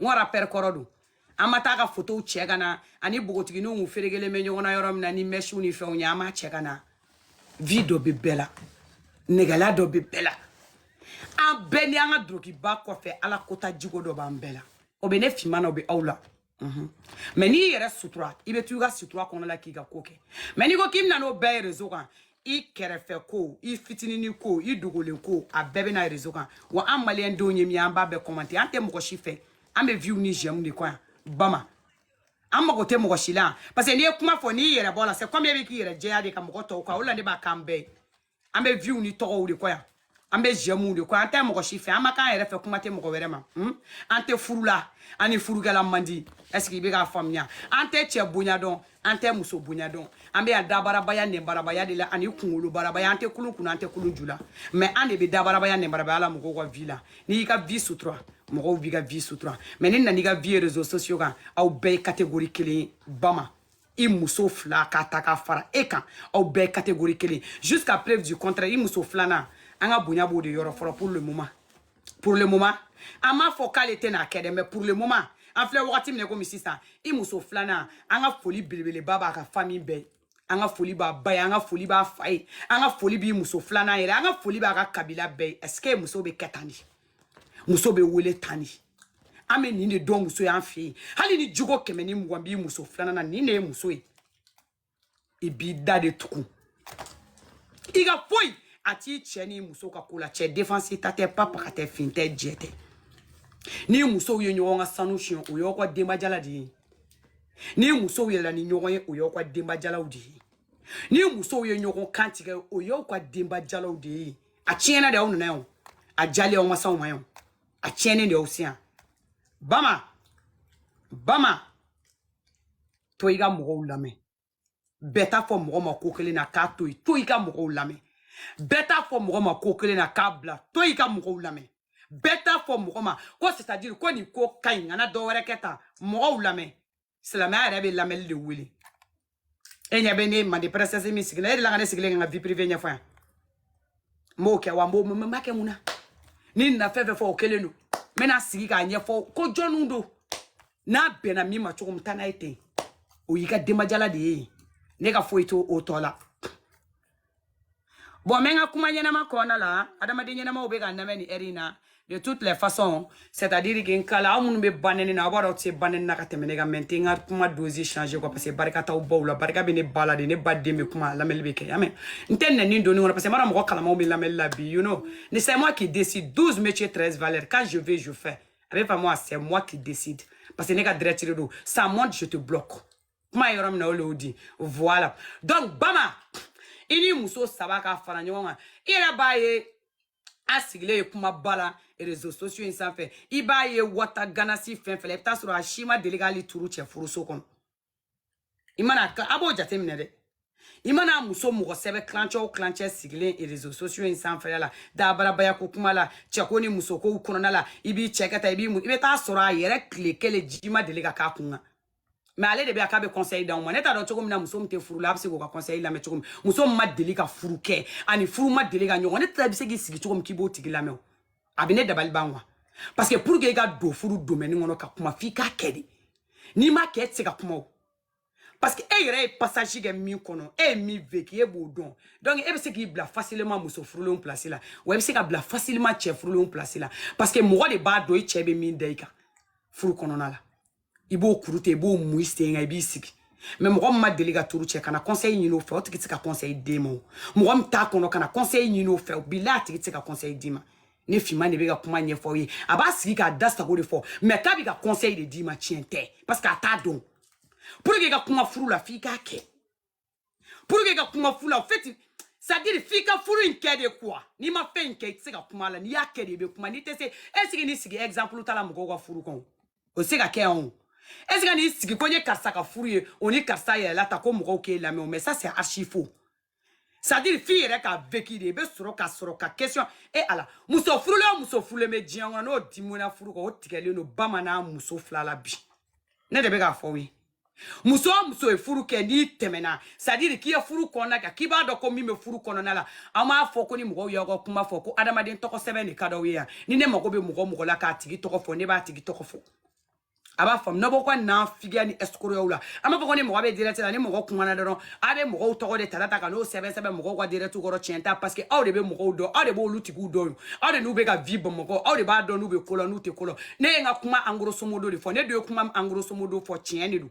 n wara pɛrɛ kɔrɔ don an ma t'a ka fotow cɛ ka na a ni bogotigininw kun ferekelen bɛ ɲɔgɔn na yɔrɔ min na ni mɛsiw ni fɛnw ye an m'a cɛ ka na vi dɔ bɛ bɛɛ la nɛgɛla dɔ bɛ bɛɛ la an bɛɛ ni an ka dulokiba kɔfɛ ala kota jiko dɔ b'an bɛɛ la o bɛ ne finma na o bɛ aw la mhm. mɛ n'i yɛrɛ sutura i bɛ to i ka sutura kɔnɔ la k'i ka ko kɛ mɛ n'i ko k'i bɛ na n'o bɛɛ ye rezo kan i kɛrɛfɛ ko i fitinini ko i dogolen ko a bɛɛ bɛ na rezo kan wa an maliyɛn denw ye min an b'a bɛɛ kɔmante an tɛ mɔgɔ si fɛ an bɛ viw ni jɛmu de kɔ yan bama an mago tɛ mɔgɔ si la parce que n'i ye kuma fɔ n'i yɛrɛ bɔ la c'est comme e bɛ k'i yɛrɛ jɛya de ka mɔgɔ to kɔ o la ne b'a k'an bɛɛ ye an bɛ viw ni tɔgɔw de kɔ yan an bɛ jɛmu de kɔ an tɛ mɔgɔ si fɛ an ma k'an yɛrɛ fɛ kuma tɛ mɔgɔ wɛrɛ ma an tɛ furu la an ni furukɛla man di ɛseke i bɛ k'a faamuya an tɛ cɛ bonya dɔn an tɛ muso bonya dɔn an bɛ yan dabarabaya nɛnbarabaya de la ani kunkolo barabaya an tɛ kulun kun na an tɛ kulun ju la mɛ an de bɛ dabarabaya nɛnbarabaya la mɔgɔw ka vi la n'i y'i ka vi sutura mɔgɔw b'i ka vi sutura mɛ n'i na n'i ka vi réseaux sociaux kan aw bɛɛ ye catégorie kelen ye bama i muso fila ka ta ka fara e kan aw bɛɛ catégorie kelen jusqu'à preuve du contraire i muso filanan an ka bonya b'o de yɔrɔ fɔlɔ pour le moment pour le moment an m'a fɔ k'ale tɛna kɛ dɛ mais pour le moment an filɛ wagati min na komi sisan i muso filanan an ka foli belebeleba b'a ka famille bɛɛ an ka foli b'a ba ye an ka foli b'a fa ye an ka foli b'i muso filanan yɛrɛ an ka foli b'a ka kabila bɛɛ ye est ce que muso bɛ kɛ tan de muso bɛ wele tan de an bɛ nin de dɔn muso y'an fɛ yen hali ni jogo kɛmɛ ni mugan b'i muso filanan na nin de ye muso ye i b'i da de tugun i ka foyi a t'i cɛ ni muso ka ko la cɛ defansi ta tɛ papa ka tɛ fin tɛ jɛ tɛ ni musow ye ɲɔgɔn ka sanu siɲɛ o y'aw ka denbajala de ye ni musow yɛlɛla ni ɲɔgɔn ye o y'aw ka denbajalaw de ye ni musow ye ɲɔgɔn kan tigɛ o y'aw ka denbajalaw de ye a tiɲɛna de aw nana yan a diyalen aw ma s'an ma yan a tiɲɛnen de aw se yan bama bama to i ka mɔgɔw lamɛn bɛɛ t'a fɔ mɔgɔ ma ko kelen na k'a to yen to i ka mɔgɔw lamɛn bɛɛ t'a fɔ mɔgɔ ma ko kelen na k'a bila to i ka mɔgɔw lamɛn bɛɛ t'a fɔ mɔgɔ ma ko c'est à dire ko nin ko ka ɲi kana dɔ wɛrɛ kɛ tan mɔgɔw lamɛn silamɛya yɛrɛ bɛ lamɛnni de wele e ɲɛ bɛ ne mande princesse min sigilen e de la ka ne sigilen ka vie privée ɲɛfɔ yan n b'o kɛ wa n b'o n b'a kɛ mun na ni n nana fɛn fɛn fɔ o kelen don n bɛna sigi k'a ɲɛfɔ ko jɔnniw don n'a bɛnna min ma cogo min taa n'a ye ten o y'i ka denbajala de ye ne ka foyi t'o tɔ la Bon, mais n ka kuma ɲɛnama kɔnɔna la adamaden ɲɛnamaw bɛ ka n lamɛn nin heure in na de toutes les façons c'est à dire que n kala aw minnu bɛ banɛni na aw b'a dɔn aw tɛ se banɛni na ka tɛmɛ ne kan mais n tɛ n ka kuma dose changer quoi parce que barika t'aw baw la barika bɛ ne ba la de ne ba den bɛ kuma lamɛnni bɛ kɛ y'a mɛn n tɛ nɛni don nin kɔnɔ parce que n b'a dɔn mɔgɔ kalamaw bɛ lamɛnni la bi you know ne c'est moi qui décide 12 métiers 13 valeurs quand je veux je fais a bɛ faamu a c'est moi qui décide parce que ne ka direct de don ça monte je te bloque kuma yɔrɔ min na o le y'o di voilà donc bama i ni muso saba ka fara ɲɔgɔn kan i yɛrɛ b'a ye a sigilen ye kumaba la réseaux sociaux in sanfɛ i b'a ye wata ganasi fɛn fɛn la i bɛ taa sɔrɔ a si ma deli k'ali turu cɛ furuso kɔnɔ i mana a b'o jateminɛ dɛ i mana muso mɔgɔ sɛbɛ tilancɛ o tilancɛ sigilen réseaux sociaux in sanfɛla la dabarabaya ko kuma la cɛko ni musokow kɔnɔna la i b'i cɛ kɛ ta i b'i i bɛ taa sɔrɔ a yɛrɛ tile kelen ji ma deli ka k'a kun kan mais ale de bɛ a k'a bɛ conseil d'aw ma ne t'a dɔn cogo min na muso min tɛ furu la a bɛ se k'o ka conseil lamɛn cogo min muso min ma deli ka furu kɛ ani furu ma deli ka ɲɔgɔn ne tɛ bɛ se k'i sigi cogo min k'i b'o tigi lamɛn o a bɛ ne dabali ban quoi parce que pour que i ka don furu domaine kɔnɔ ka kuma f'i k'a kɛ de n'i m'a kɛ e tɛ se ka kuma o parce que e yɛrɛ ye passage kɛ min kɔnɔ e ye min vécu e b'o dɔn donc e bɛ se k'i bila facilement muso furulenw place la wa e bɛ se ka bila facilement cɛ furulenw place la parce que mɔgɔ de b'a dɔn i cɛ bɛ min da i kan furu kɔnɔna la i b'o kuru ten i b'o mu i sen kan i b'i sigi mais mɔgɔ min ma deli ka turu cɛ kana conseil ɲini o fɛ o tigi tɛ se ka conseil d'e ma o mɔgɔ min t'a kɔnɔ kana conseil ɲini o fɛ bilahi a tigi tɛ se ka conseil d'i ma ne finman de bɛ ka kuma ɲɛfɔ aw ye a b'a sigi k'a da sago de fɔ mais k'a bɛ ka conseil de d'i ma tiɲɛ tɛ parce que a t'a dɔn pour que i ka kuma furu la f'i k'a kɛ pour que i ka kuma furu la en fait c'est à dire f'i ka furu in kɛ de quoi n'i ma fɛn in kɛ i tɛ se ka kuma la n'i y'a kɛ de i bɛ kuma n'i tɛ se est ce que n'i sigi exemple ta la mɔgɔw ka furu kɔnɔ o tɛ se ka kɛ yan o est ce que n'i sigi ko n ye karisa ka furu ye o ni karisa yɛrɛ la ta ko mɔgɔw k'e lamɛn o mais ça c'est archi faux c'est à dire f'i yɛrɛ ka vécu de i bɛ sɔrɔ ka sɔrɔ ka question e eh, ala muso furulen o muso furulen bɛ diɲɛ kɔnɔ n'o dimina furu kan o tigɛlen don bamanan muso fila la bi ne de bɛ k'a fɔ aw ye muso o muso ye furu kɛ n'i tɛmɛna c'est à dire k'i ye furu kɔnɔna kan k'i b'a dɔn ko min bɛ furu kɔnɔna la an m'a fɔ ko ni mɔgɔw y'aw ka kuma fɔ ko adamaden tɔgɔ sɛbɛn de ka d'aw ye yan ni ne mago bɛ mɔgɔ mɔgɔ la k'a tigi tɔgɔ fɔ ne b'a tigi tɔgɔ fɔ a b'a faamu n'a b'o ka nafigiya ni ɛsikoroyaw la an b'a fɔ ko ni mɔgɔ bɛ direct la ni mɔgɔ kumana dɔrɔn a bɛ mɔgɔw tɔgɔ de ta ta ka n'o sɛbɛn sɛbɛn mɔgɔw ka direct kɔrɔ tiɲɛ t'a parce que aw de bɛ mɔgɔw dɔn aw de b'olu tigiw dɔn aw de n'u bɛ ka vie bamakɔ aw de b'a dɔn n'u bɛ ko la n'u tɛ ko la ne ye n ka kuma en grosso modo de fɔ ne dun ye kuma en grosso modo fɔ tiɲɛ de don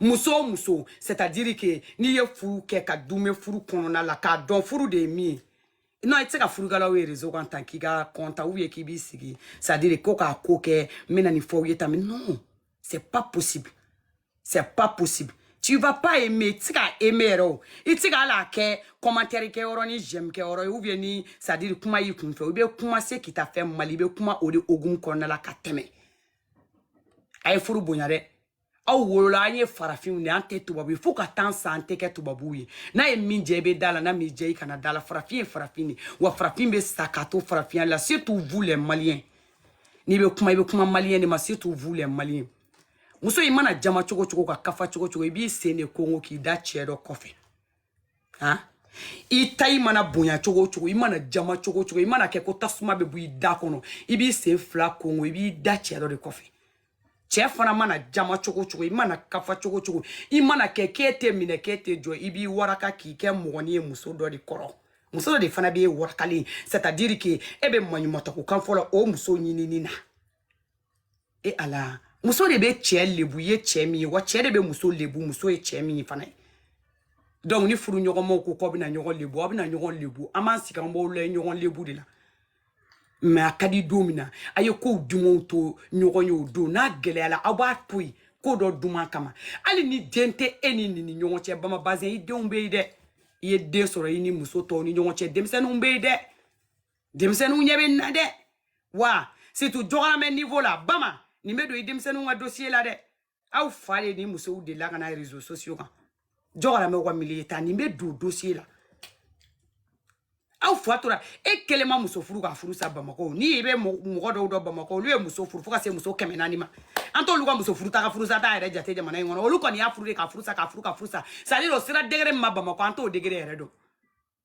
muso o muso c'est à dire que n'i ye furu kɛ ka duumɛ furu kɔnɔna la k'a dɔn furu de ye min ye non i tɛ se ka furukalaw ye réseau kan tan k'i ka compte ou bien k'i b'i sigi c'est à dire ko k'a ko kɛ n bɛna nin fɔ aw ye tan mais non c'est pas possible c'est pas possible tu vas pas aimer i tɛ se ka aimer yɛrɛ o i tɛ se ka hali a kɛ commentaire kɛ yɔrɔ ni j'aime kɛ yɔrɔ ye ou bien ni c'est à dire kuma y'i kun fɛ i bɛ kuma ce qui t'a fait mal i bɛ kuma o de hukumu kɔnɔna la ka tɛmɛ a ye furu bonya dɛ aw wolola an ye farafinw de an tɛ tubabu ye fo ka taa sa an tɛ kɛ tubabuw ye n'a ye min diya i bɛ d'a la n'a m'i diya i kana d'a la farafin ye farafin de wa farafin bɛ sa ka to farafinya la surtout vous les maliens n'i bɛ kuma i bɛ kuma malien de ma surtout vous les maliens muso i mana jama cogo o cogo ka kafa cogo o cogo i b'i sen de kongo k'i da cɛ dɔ kɔfɛ han i ta i mana bonya cogo o cogo i mana jama cogo o cogo i mana kɛ ko tasuma bɛ bɔ i da kɔnɔ i b'i sen fila kongo i b'i da cɛ dɔ de kɔfɛ cɛ fana mana jama cogo o cogo i mana kafa cogo o cogo i mana kɛ k'e tɛ minɛ k'e tɛ jɔ i b'i waraka k'i kɛ mɔgɔnin ye muso dɔ de kɔrɔ muso dɔ de fana b'e warakalen c'est à dire que e bɛ maɲumatɔko kan fɔ la o muso ɲinini na e ala muso de bɛ cɛ lebu ye cɛ min ye wa cɛ de bɛ muso lebu muso ye cɛ min ye fana ye donc ni furu ɲɔgɔnmaw ko k'aw bɛna ɲɔgɔn lebu aw bɛna ɲɔgɔn lebu an b'an sigi an b'aw layɛ ɲɔgɔn lebu de la mais a ka di don min na a ye kow dumanw to ɲɔgɔn ye o don n'a gɛlɛyala aw b'a to yen ko dɔ duman kama hali ni den tɛ e ni nin ni ɲɔgɔn cɛ bama bazɛn i denw bɛ yen dɛ i ye den sɔrɔ i ni muso tɔw ni ɲɔgɔn cɛ denmisɛnninw bɛ yen dɛ denmisɛnninw ɲɛ bɛ nin na dɛ wa surtout jɔgɔramɛ niveau la bama nin bɛ don i denmisɛnninw ka dossier la dɛ aw fa de ni musow delila ka na réseaux sociaux kan jɔgɔramɛw ka milieu ta nin bɛ don dossier la aw fa tora e kelen ma muso furu ka furu sa bamakɔ ne bɛ mɔgɔ dɔw dɔn bamakɔ olu ye muso furu fo ka se muso kɛmɛ naani ma an t'olu ka muso furu ta ka furu sa ta yɛrɛ jate jamana in kɔnɔ olu kɔni y'a furu de ka furu sa ka furu ka furu sa c'est à dire o sera degré min ma bamakɔ an t'o degré yɛrɛ dɔn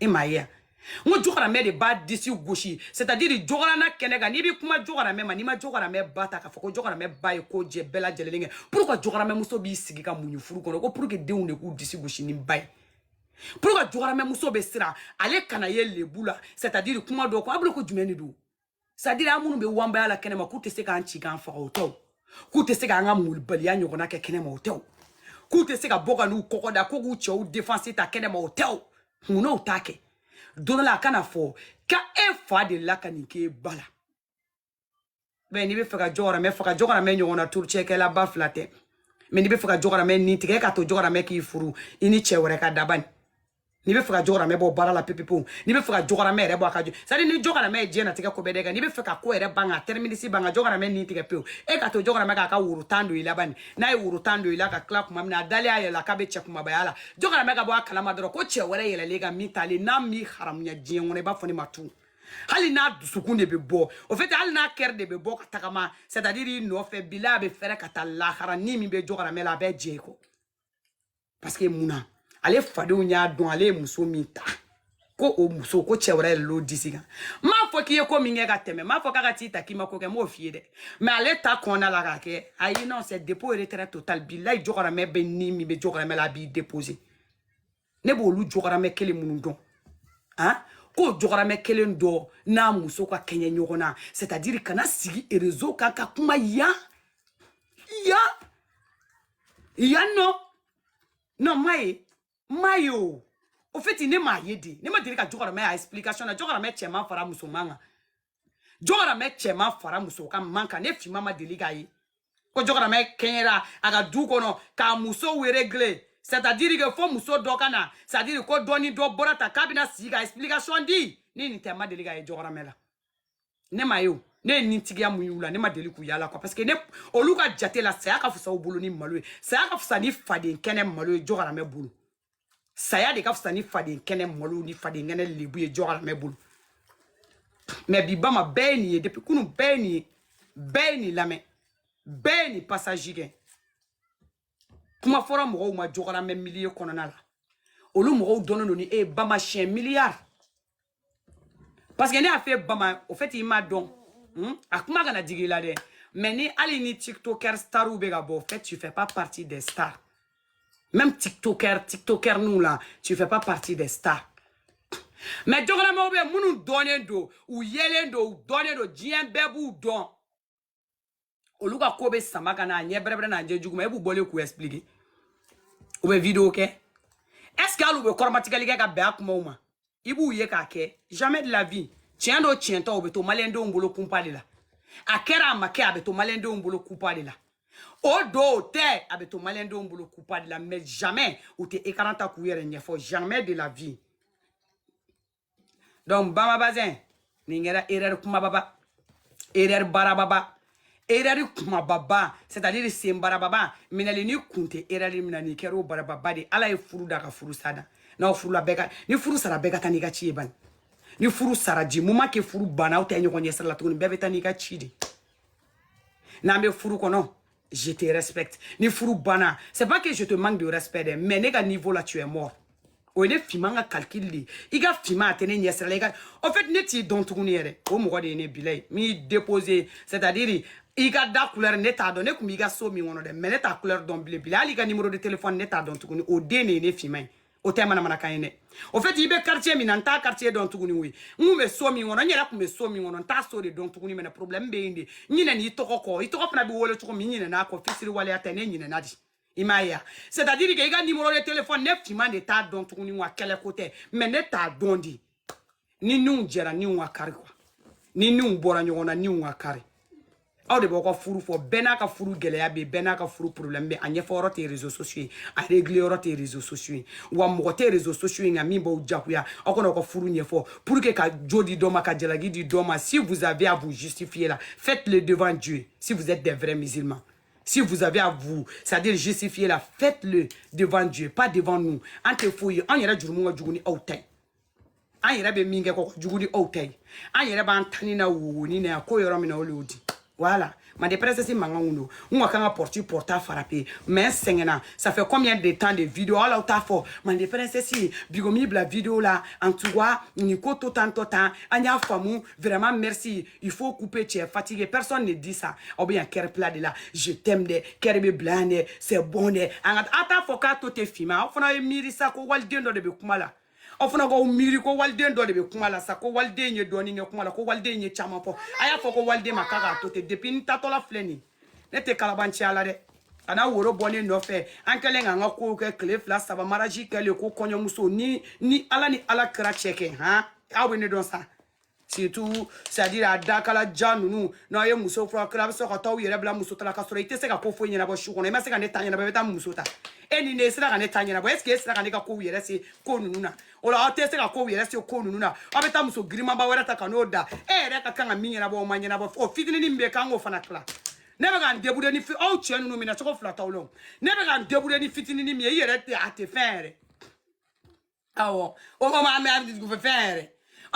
e m'a ye yan n ko jɔgɔramɛ de b'a disi gosi c'est à dire jɔgɔrana kɛnɛ kan n'i bɛ kuma jɔgɔramɛ ma n'i ma jɔgɔramɛ ba ta k'a fɔ ko jɔgɔramɛ ba ye ko jɛ bɛɛ lajɛlen kɛ pour que jɔgɔramɛ muso b'i sigi ka muɲu furu kɔnɔ ko pour que denw de k'u disi gosi ni ba ye pour que jɔgɔramɛ muso bɛ siran ale kana ye lebu la c'est à dire kuma dɔ ko a bolo ko jumɛn de don c'est à dire an minnu bɛ wanbaya la kɛnɛma k'u tɛ se k'an ci k'an faga o tɛ wo k'u tɛ se k'an ka malobaliya ɲɔgɔnna kɛ kɛnɛma o tɛ wo k'u tɛ se ka bɔ ka n'u kɔkɔ da ko k'u cɛw défense ta kɛnɛma o tɛ wo mun na o t'a kɛ don dɔ la a kana fɔ ka e fa de la ka nin k'e ba la mais n'i bɛ fɛ ka jɔgɔramɛ faga jɔgɔramɛ ɲɔgɔn na turucɛkɛla ba fila tɛ mais n'i bɛ fɛ ka jɔgɔramɛ nin tigɛ ka to jɔgɔramɛ k'i furu i ni cɛ wɛrɛ ka da bani n'i bɛ fɛ ka jɔgɔramɛ bɔ baara la pepepewu n'i bɛ fɛ ka jɔgɔramɛ yɛrɛ bɔ a ka jɔ c'est à dire ni jɔgɔramɛ ye diɲɛnatigɛ ko bɛɛ da i kan n'i bɛ fɛ ka ko yɛrɛ ban ka terminus ban ka jɔgɔramɛ ni tigɛ pewu e ka to jɔgɔramɛ k'a ka woro tan don i la bani n'a ye woro tan don i la ka tila kuma min na a dalen a yɛrɛ la k'a bɛ cɛ kumabaya la jɔgɔramɛ ka bɔ a kalama dɔrɔn ko cɛ wɛrɛ yɛlɛlen kan min t'ale n'a m'i haramuya diɲɛ kɔnɔ i b'a fɔ ne ma tun hali n'a dusukun de bɛ bɔ au fait hali n'a kɛrɛ de bɛ bɔ ka tagama c'est à dire i nɔfɛ bila a bɛ fɛrɛ ka taa lahara ni min bɛ jɔgɔramɛ la a bɛ jɛ i kɔ parce que mun na ale fadenw y'a dɔn ale ye muso min ta ko o muso ko cɛ wɛrɛ yɛlɛl'o disi kan n m'a fɔ k'i ye ko min kɛ ka tɛmɛ n m'a fɔ k'a ka t'i ta k'i ma ko kɛ n m'o f'i ye dɛ mais ale ta kɔnɔna la k'a kɛ ayi non c'est dépôt retrait total bilayi jɔgɔramɛ bɛ ni min bɛ jɔgɔramɛ la a b'i déposer ne b'olu jɔgɔramɛ kelen minnu dɔn han ah? k'o jɔgɔramɛ kelen dɔ n'a muso ka kɛɲɛ ɲɔgɔn na c'est à dire ka na sigi réseau kan ka kuma yan yan yan non non m'a ye m'a ye o au fait ne m'a ye dɛ ne ma deli ka jɔgɔramɛ a explication na jɔgɔramɛ cɛman fara musoman kan jɔgɔramɛ cɛman fara muso ka man kan ne finman ma deli k'a ye ko jɔgɔramɛ kɛɲɛra a ka du kɔnɔ k'a muso régler c'est à dire que fo muso dɔ ka na c'est à dire ko dɔ ni dɔ bɔra ta k'a bɛna sigi ka explication di ne nin tɛ ma deli k'a ye jɔgɔramɛ la ne m'a ye o ne ye nintigiya min y'u la ne ma deli k'u y'a la quoi parce que ne olu ka jate la saya ka fisa u bolo ni malo ye saya ka fisa ni faden kɛnɛ malo ye jɔgɔramɛ bolo saya de ka fisa ni faden kɛnɛ malo ni faden kɛnɛ lebu ye jɔgɔramɛ bolo mais bi bama bɛɛ ye nin ye depuis kunu bɛɛ ye nin ye bɛɛ ye nin lamɛn bɛɛ ye nin passage kɛ kuma fɔra mɔgɔw ma jɔgɔramɛ milieu kɔnɔna la olu mɔgɔw dɔnnen don ni e ye bama siyɛn miliyari parce que ne y'a fɔ bama au fait i m'a dɔn hmm? a kuma kana digi i la dɛ mais ni hali ni tiktoker starw bɛ ka bɔ au fait tu fais pas partie des stars même tiktoker nous là tu fais pas partie des stars mais jɔgɔramɛw bɛ minnu dɔnnen don u yelen don u dɔnnen don diɲɛ bɛɛ b'u dɔn olu ka ko bɛ sama ka n'a ɲɛ bɛrɛbɛrɛ n'a ɲɛ juguma e b'u bɔlen k'u expliquer u bɛ vidéo kɛ est ce que hali u bɛ kɔrɔmatigɛli kɛ ka bɛn a kumaw ma i b'u ye k'a kɛ jamais de la vie tiɲɛ don tiɲɛ tɛ o bɛ to maliyɛndenw bolo kunpa de la a kɛra a ma kɛ a bɛ to maliyɛndenw bolo kunpa de la o don o tɛ a bɛ to maliyɛndenw bolo kunpa de la mais jamais u tɛ écran ta k'u yɛrɛ ɲɛfɔ jamais de la vie donc bama bazin nin kɛra erreur kumababa erreur barababa erreur kumababa c'est à dire c'est barababa minɛli ni kun tɛ erreur min na nin kɛra o barababa de ala ye furu da ka furusa da n'aw furula bɛɛ ka ni furu sara bɛɛ ka taa n'i ka ci ye bani ni furu sara du moment que furu banna aw tɛ ɲɔgɔn ɲɛsira la tuguni bɛɛ bɛ taa n'i ka ci de n'an bɛ furu kɔnɔ je te respecte ni furu banna c'est pas que je te manque de respect dɛ mais ne ka niveau la tu es mort o ye ne Fima ka calcul de ye i ka Fima a tɛ ne ɲɛsira la i ka en fait ne t'i dɔn tuguni yɛrɛ o mɔgɔ de ye ne bila ye min y'i déposé c'est à dire i ka da couleur ne t'a dɔn ne tun b'i ka so min kɔnɔ dɛ mais ne t'a couleur dɔn bilen bilen hali i ka numéro de téléphone ne t'a dɔn tuguni o den de ye ne Fima ye o tɛ manamanakan ye dɛ au fait i bɛ quartier min na n t'a quartier dɔn tuguni oui n kun bɛ so min kɔnɔ n yɛrɛ tun bɛ so min kɔnɔ n t'a so de dɔn tuguni mais ne problème bɛ yen de n ɲinɛna i tɔgɔ kɔ i tɔgɔ fana bɛ wele cogo min n ɲinɛna a kɔ fisiriwaleya tɛ ne ɲinɛna de i m'a ye a c'est à dire que i ka numéro de téléphone ne Fima de t'a dɔn tuguni wa kɛlɛ ko tɛ mais ne t'a dɔn de ni niw jɛra niw ka kari quoi ni niw bɔra ɲɔgɔn na niw ka kari aw de b'aw ka furu fɔ bɛɛ n'a ka furu gɛlɛya bɛ bɛɛ n'a ka furu problème bɛ a ɲɛfɔ yɔrɔ tɛ réseaux sociaux ye a régler yɔrɔ tɛ réseaux sociaux ye wa mɔgɔ tɛ réseaux sociaux kan min b'aw jagoya aw ka na aw ka furu ɲɛfɔ pour que ka jo di dɔ ma ka jalaki di dɔ ma si vous avez à vous justifier là faites le devant Dieu si vous êtes des vrais musulmans si vous avez à vous, c'est-à-dire justifier la, faites-le devant Dieu, pas devant nous. An tɛ foyi ye, an yɛrɛ jurumu ka jugu ni aw ta ye. an yɛrɛ bɛ min kɛ o ka jugu ni aw ta ye an yɛrɛ b'an tani na wowonin na yan ko yɔrɔ min na olu y'o di voilà mande princesse mankan kun don n ka kan ka porte porte a frapper mais n sɛgɛnna ça fait combien de temps de vidéo hali aw t'a fɔ mande princesse bigo m'i bila vidéo la en tout cas nin ko to tan to tan an y'a faamu vraiment merci Il faut couper, tu es fatigué. Personne ne dit ça. Ou bien, cœur bila de la. Je t'aime de, cœur bɛ bila yan de, c'est bon de. Nka aw t'a fɔ k'a to ten Fima. Aw fana ye miiri sa ko waliden dɔ de bɛ kuma la. Aw fana k'aw miiri ko waliden dɔ de bɛ kuma la sa ko waliden ye dɔɔni kɛ kuma la ko waliden ye caman fɔ. A y'a fɔ ko waliden ma k'a k'a to ten depuis n taatɔla filɛ nin ye. Ne tɛ kalaban cɛya la dɛ. ka na woro bɔ ne nɔfɛ an kɛlen k'an ka kow kɛ tile fila saba mariage kɛlen kɔ kɔɲɔmuso ni ni ala ni ala kira cɛ kɛ han aw bɛ ne dɔn sa surtout c'est à dire a dakala ja ninnu n'aw ye muso furu kira a bɛ sɔrɔ ka taa aw yɛrɛ bila muso ta la ka sɔrɔ i tɛ se ka ko foyi ɲɛnabɔ su kɔnɔ i ma se ka ne ta ɲɛnabɔ i bɛ taa muso ta e ni ne e sera ka ne ta ɲɛnabɔ est ce que e sera ka ne ka kow yɛrɛ se ko ninnu na o la aw tɛ se ka kow yɛrɛ se ko ninnu na aw bɛ taa muso girinmanba wɛrɛ ta ka n'o da e yɛrɛ ka kan ka min ɲɛnabɔ o ma ɲɛnabɔ o fitininin min bɛ yen k'an k'o fana tila ne bɛ ka n débrouiller ni aw cɛ ninnu minɛ cogo fila t'aw la o ne bɛ ka n débrouiller ni fitininin min ye i yɛrɛ tɛ a tɛ fɛn yɛrɛ awɔ o ko ma an bɛ abiditi fɛ fɛn yɛrɛ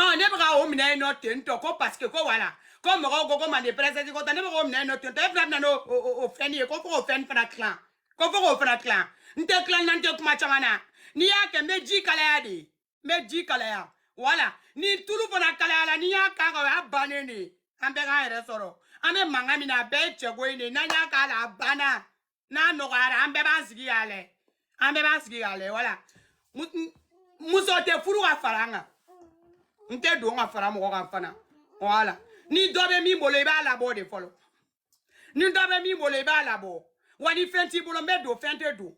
ɔ ne bɛ ka o minɛ nɔ ten tɔ ko paseke ko wala ko mɔgɔw ko ko manden pɛrɛsɛti ko tɛ ne bɛ k'o minɛ nɔ ten tɔ e fana bɛna n'o o o- o fɛn ye ko fo k'o fɛn fana tilan ko fo k'o fana tilan n tɛ tilan na n tɛ kuma caman na n'i y'a kɛ n bɛ ji kalaya de n bɛ ji kalaya wala ni tulu fana kalayala n'i y'a k'a kan o y'a bannen de ye an bɛɛ k'an yɛrɛ sɔrɔ an bɛ mankan min na a bɛɛ ye cɛko in de ye n'an y'a k'a la a banna n'a nɔgɔyara an bɛɛ b'an sigi k'a lajɛ an bɛɛ b'an sigi k'a lajɛ wala Mu- n- muso tɛ furu ka fara n kan n tɛ don ka fara mɔgɔ kan fana wala ni dɔ bɛ min bolo i b'a labɔ de fɔlɔ ni dɔ bɛ min bolo i b'a labɔ wa ni fɛn t'i bolo n bɛ don fɛn tɛ don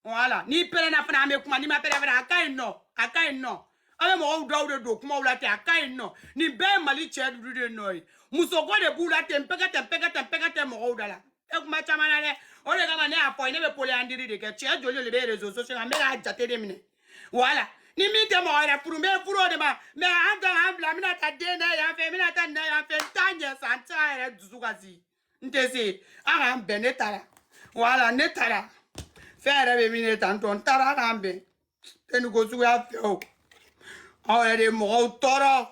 wala n'i pɛrɛnna fana n bɛ kuma n'i ma pɛrɛn fana a ka ɲi nɔ a ka ɲi nɔ an bɛ mɔgɔw dɔw de don kumaw la ten a ka ɲi nɔ nin bɛɛ ye mali cɛ ninnu de nɔ ye musoko de b'u la ten pɛkɛ tɛ pɛkɛ tɛ pɛkɛ tɛ mɔgɔw da la e kuma caman na dɛ o de kama ne y'a fɔ ne bɛ poliyandiri de kɛ cɛ joli de bɛ rezo sosiyo la n bɛ k'a jate de minɛ wala ni min tɛ mɔgɔ yɛrɛ furu n bɛ furu o de ma mɛ an ta an bila n bɛna taa den da yan fɛ n bɛna taa nin da yan fɛ n t'a ɲɛ sa n t'a yɛrɛ dusu kasi n tɛ se a k'an bɛn ne taara wala ne taara fɛn yɛrɛ bɛ min ne tan tɔ n taara a k'an bɛn n tɛ nin ko suguya fɛ o aw yɛrɛ de ye mɔgɔw tɔɔrɔ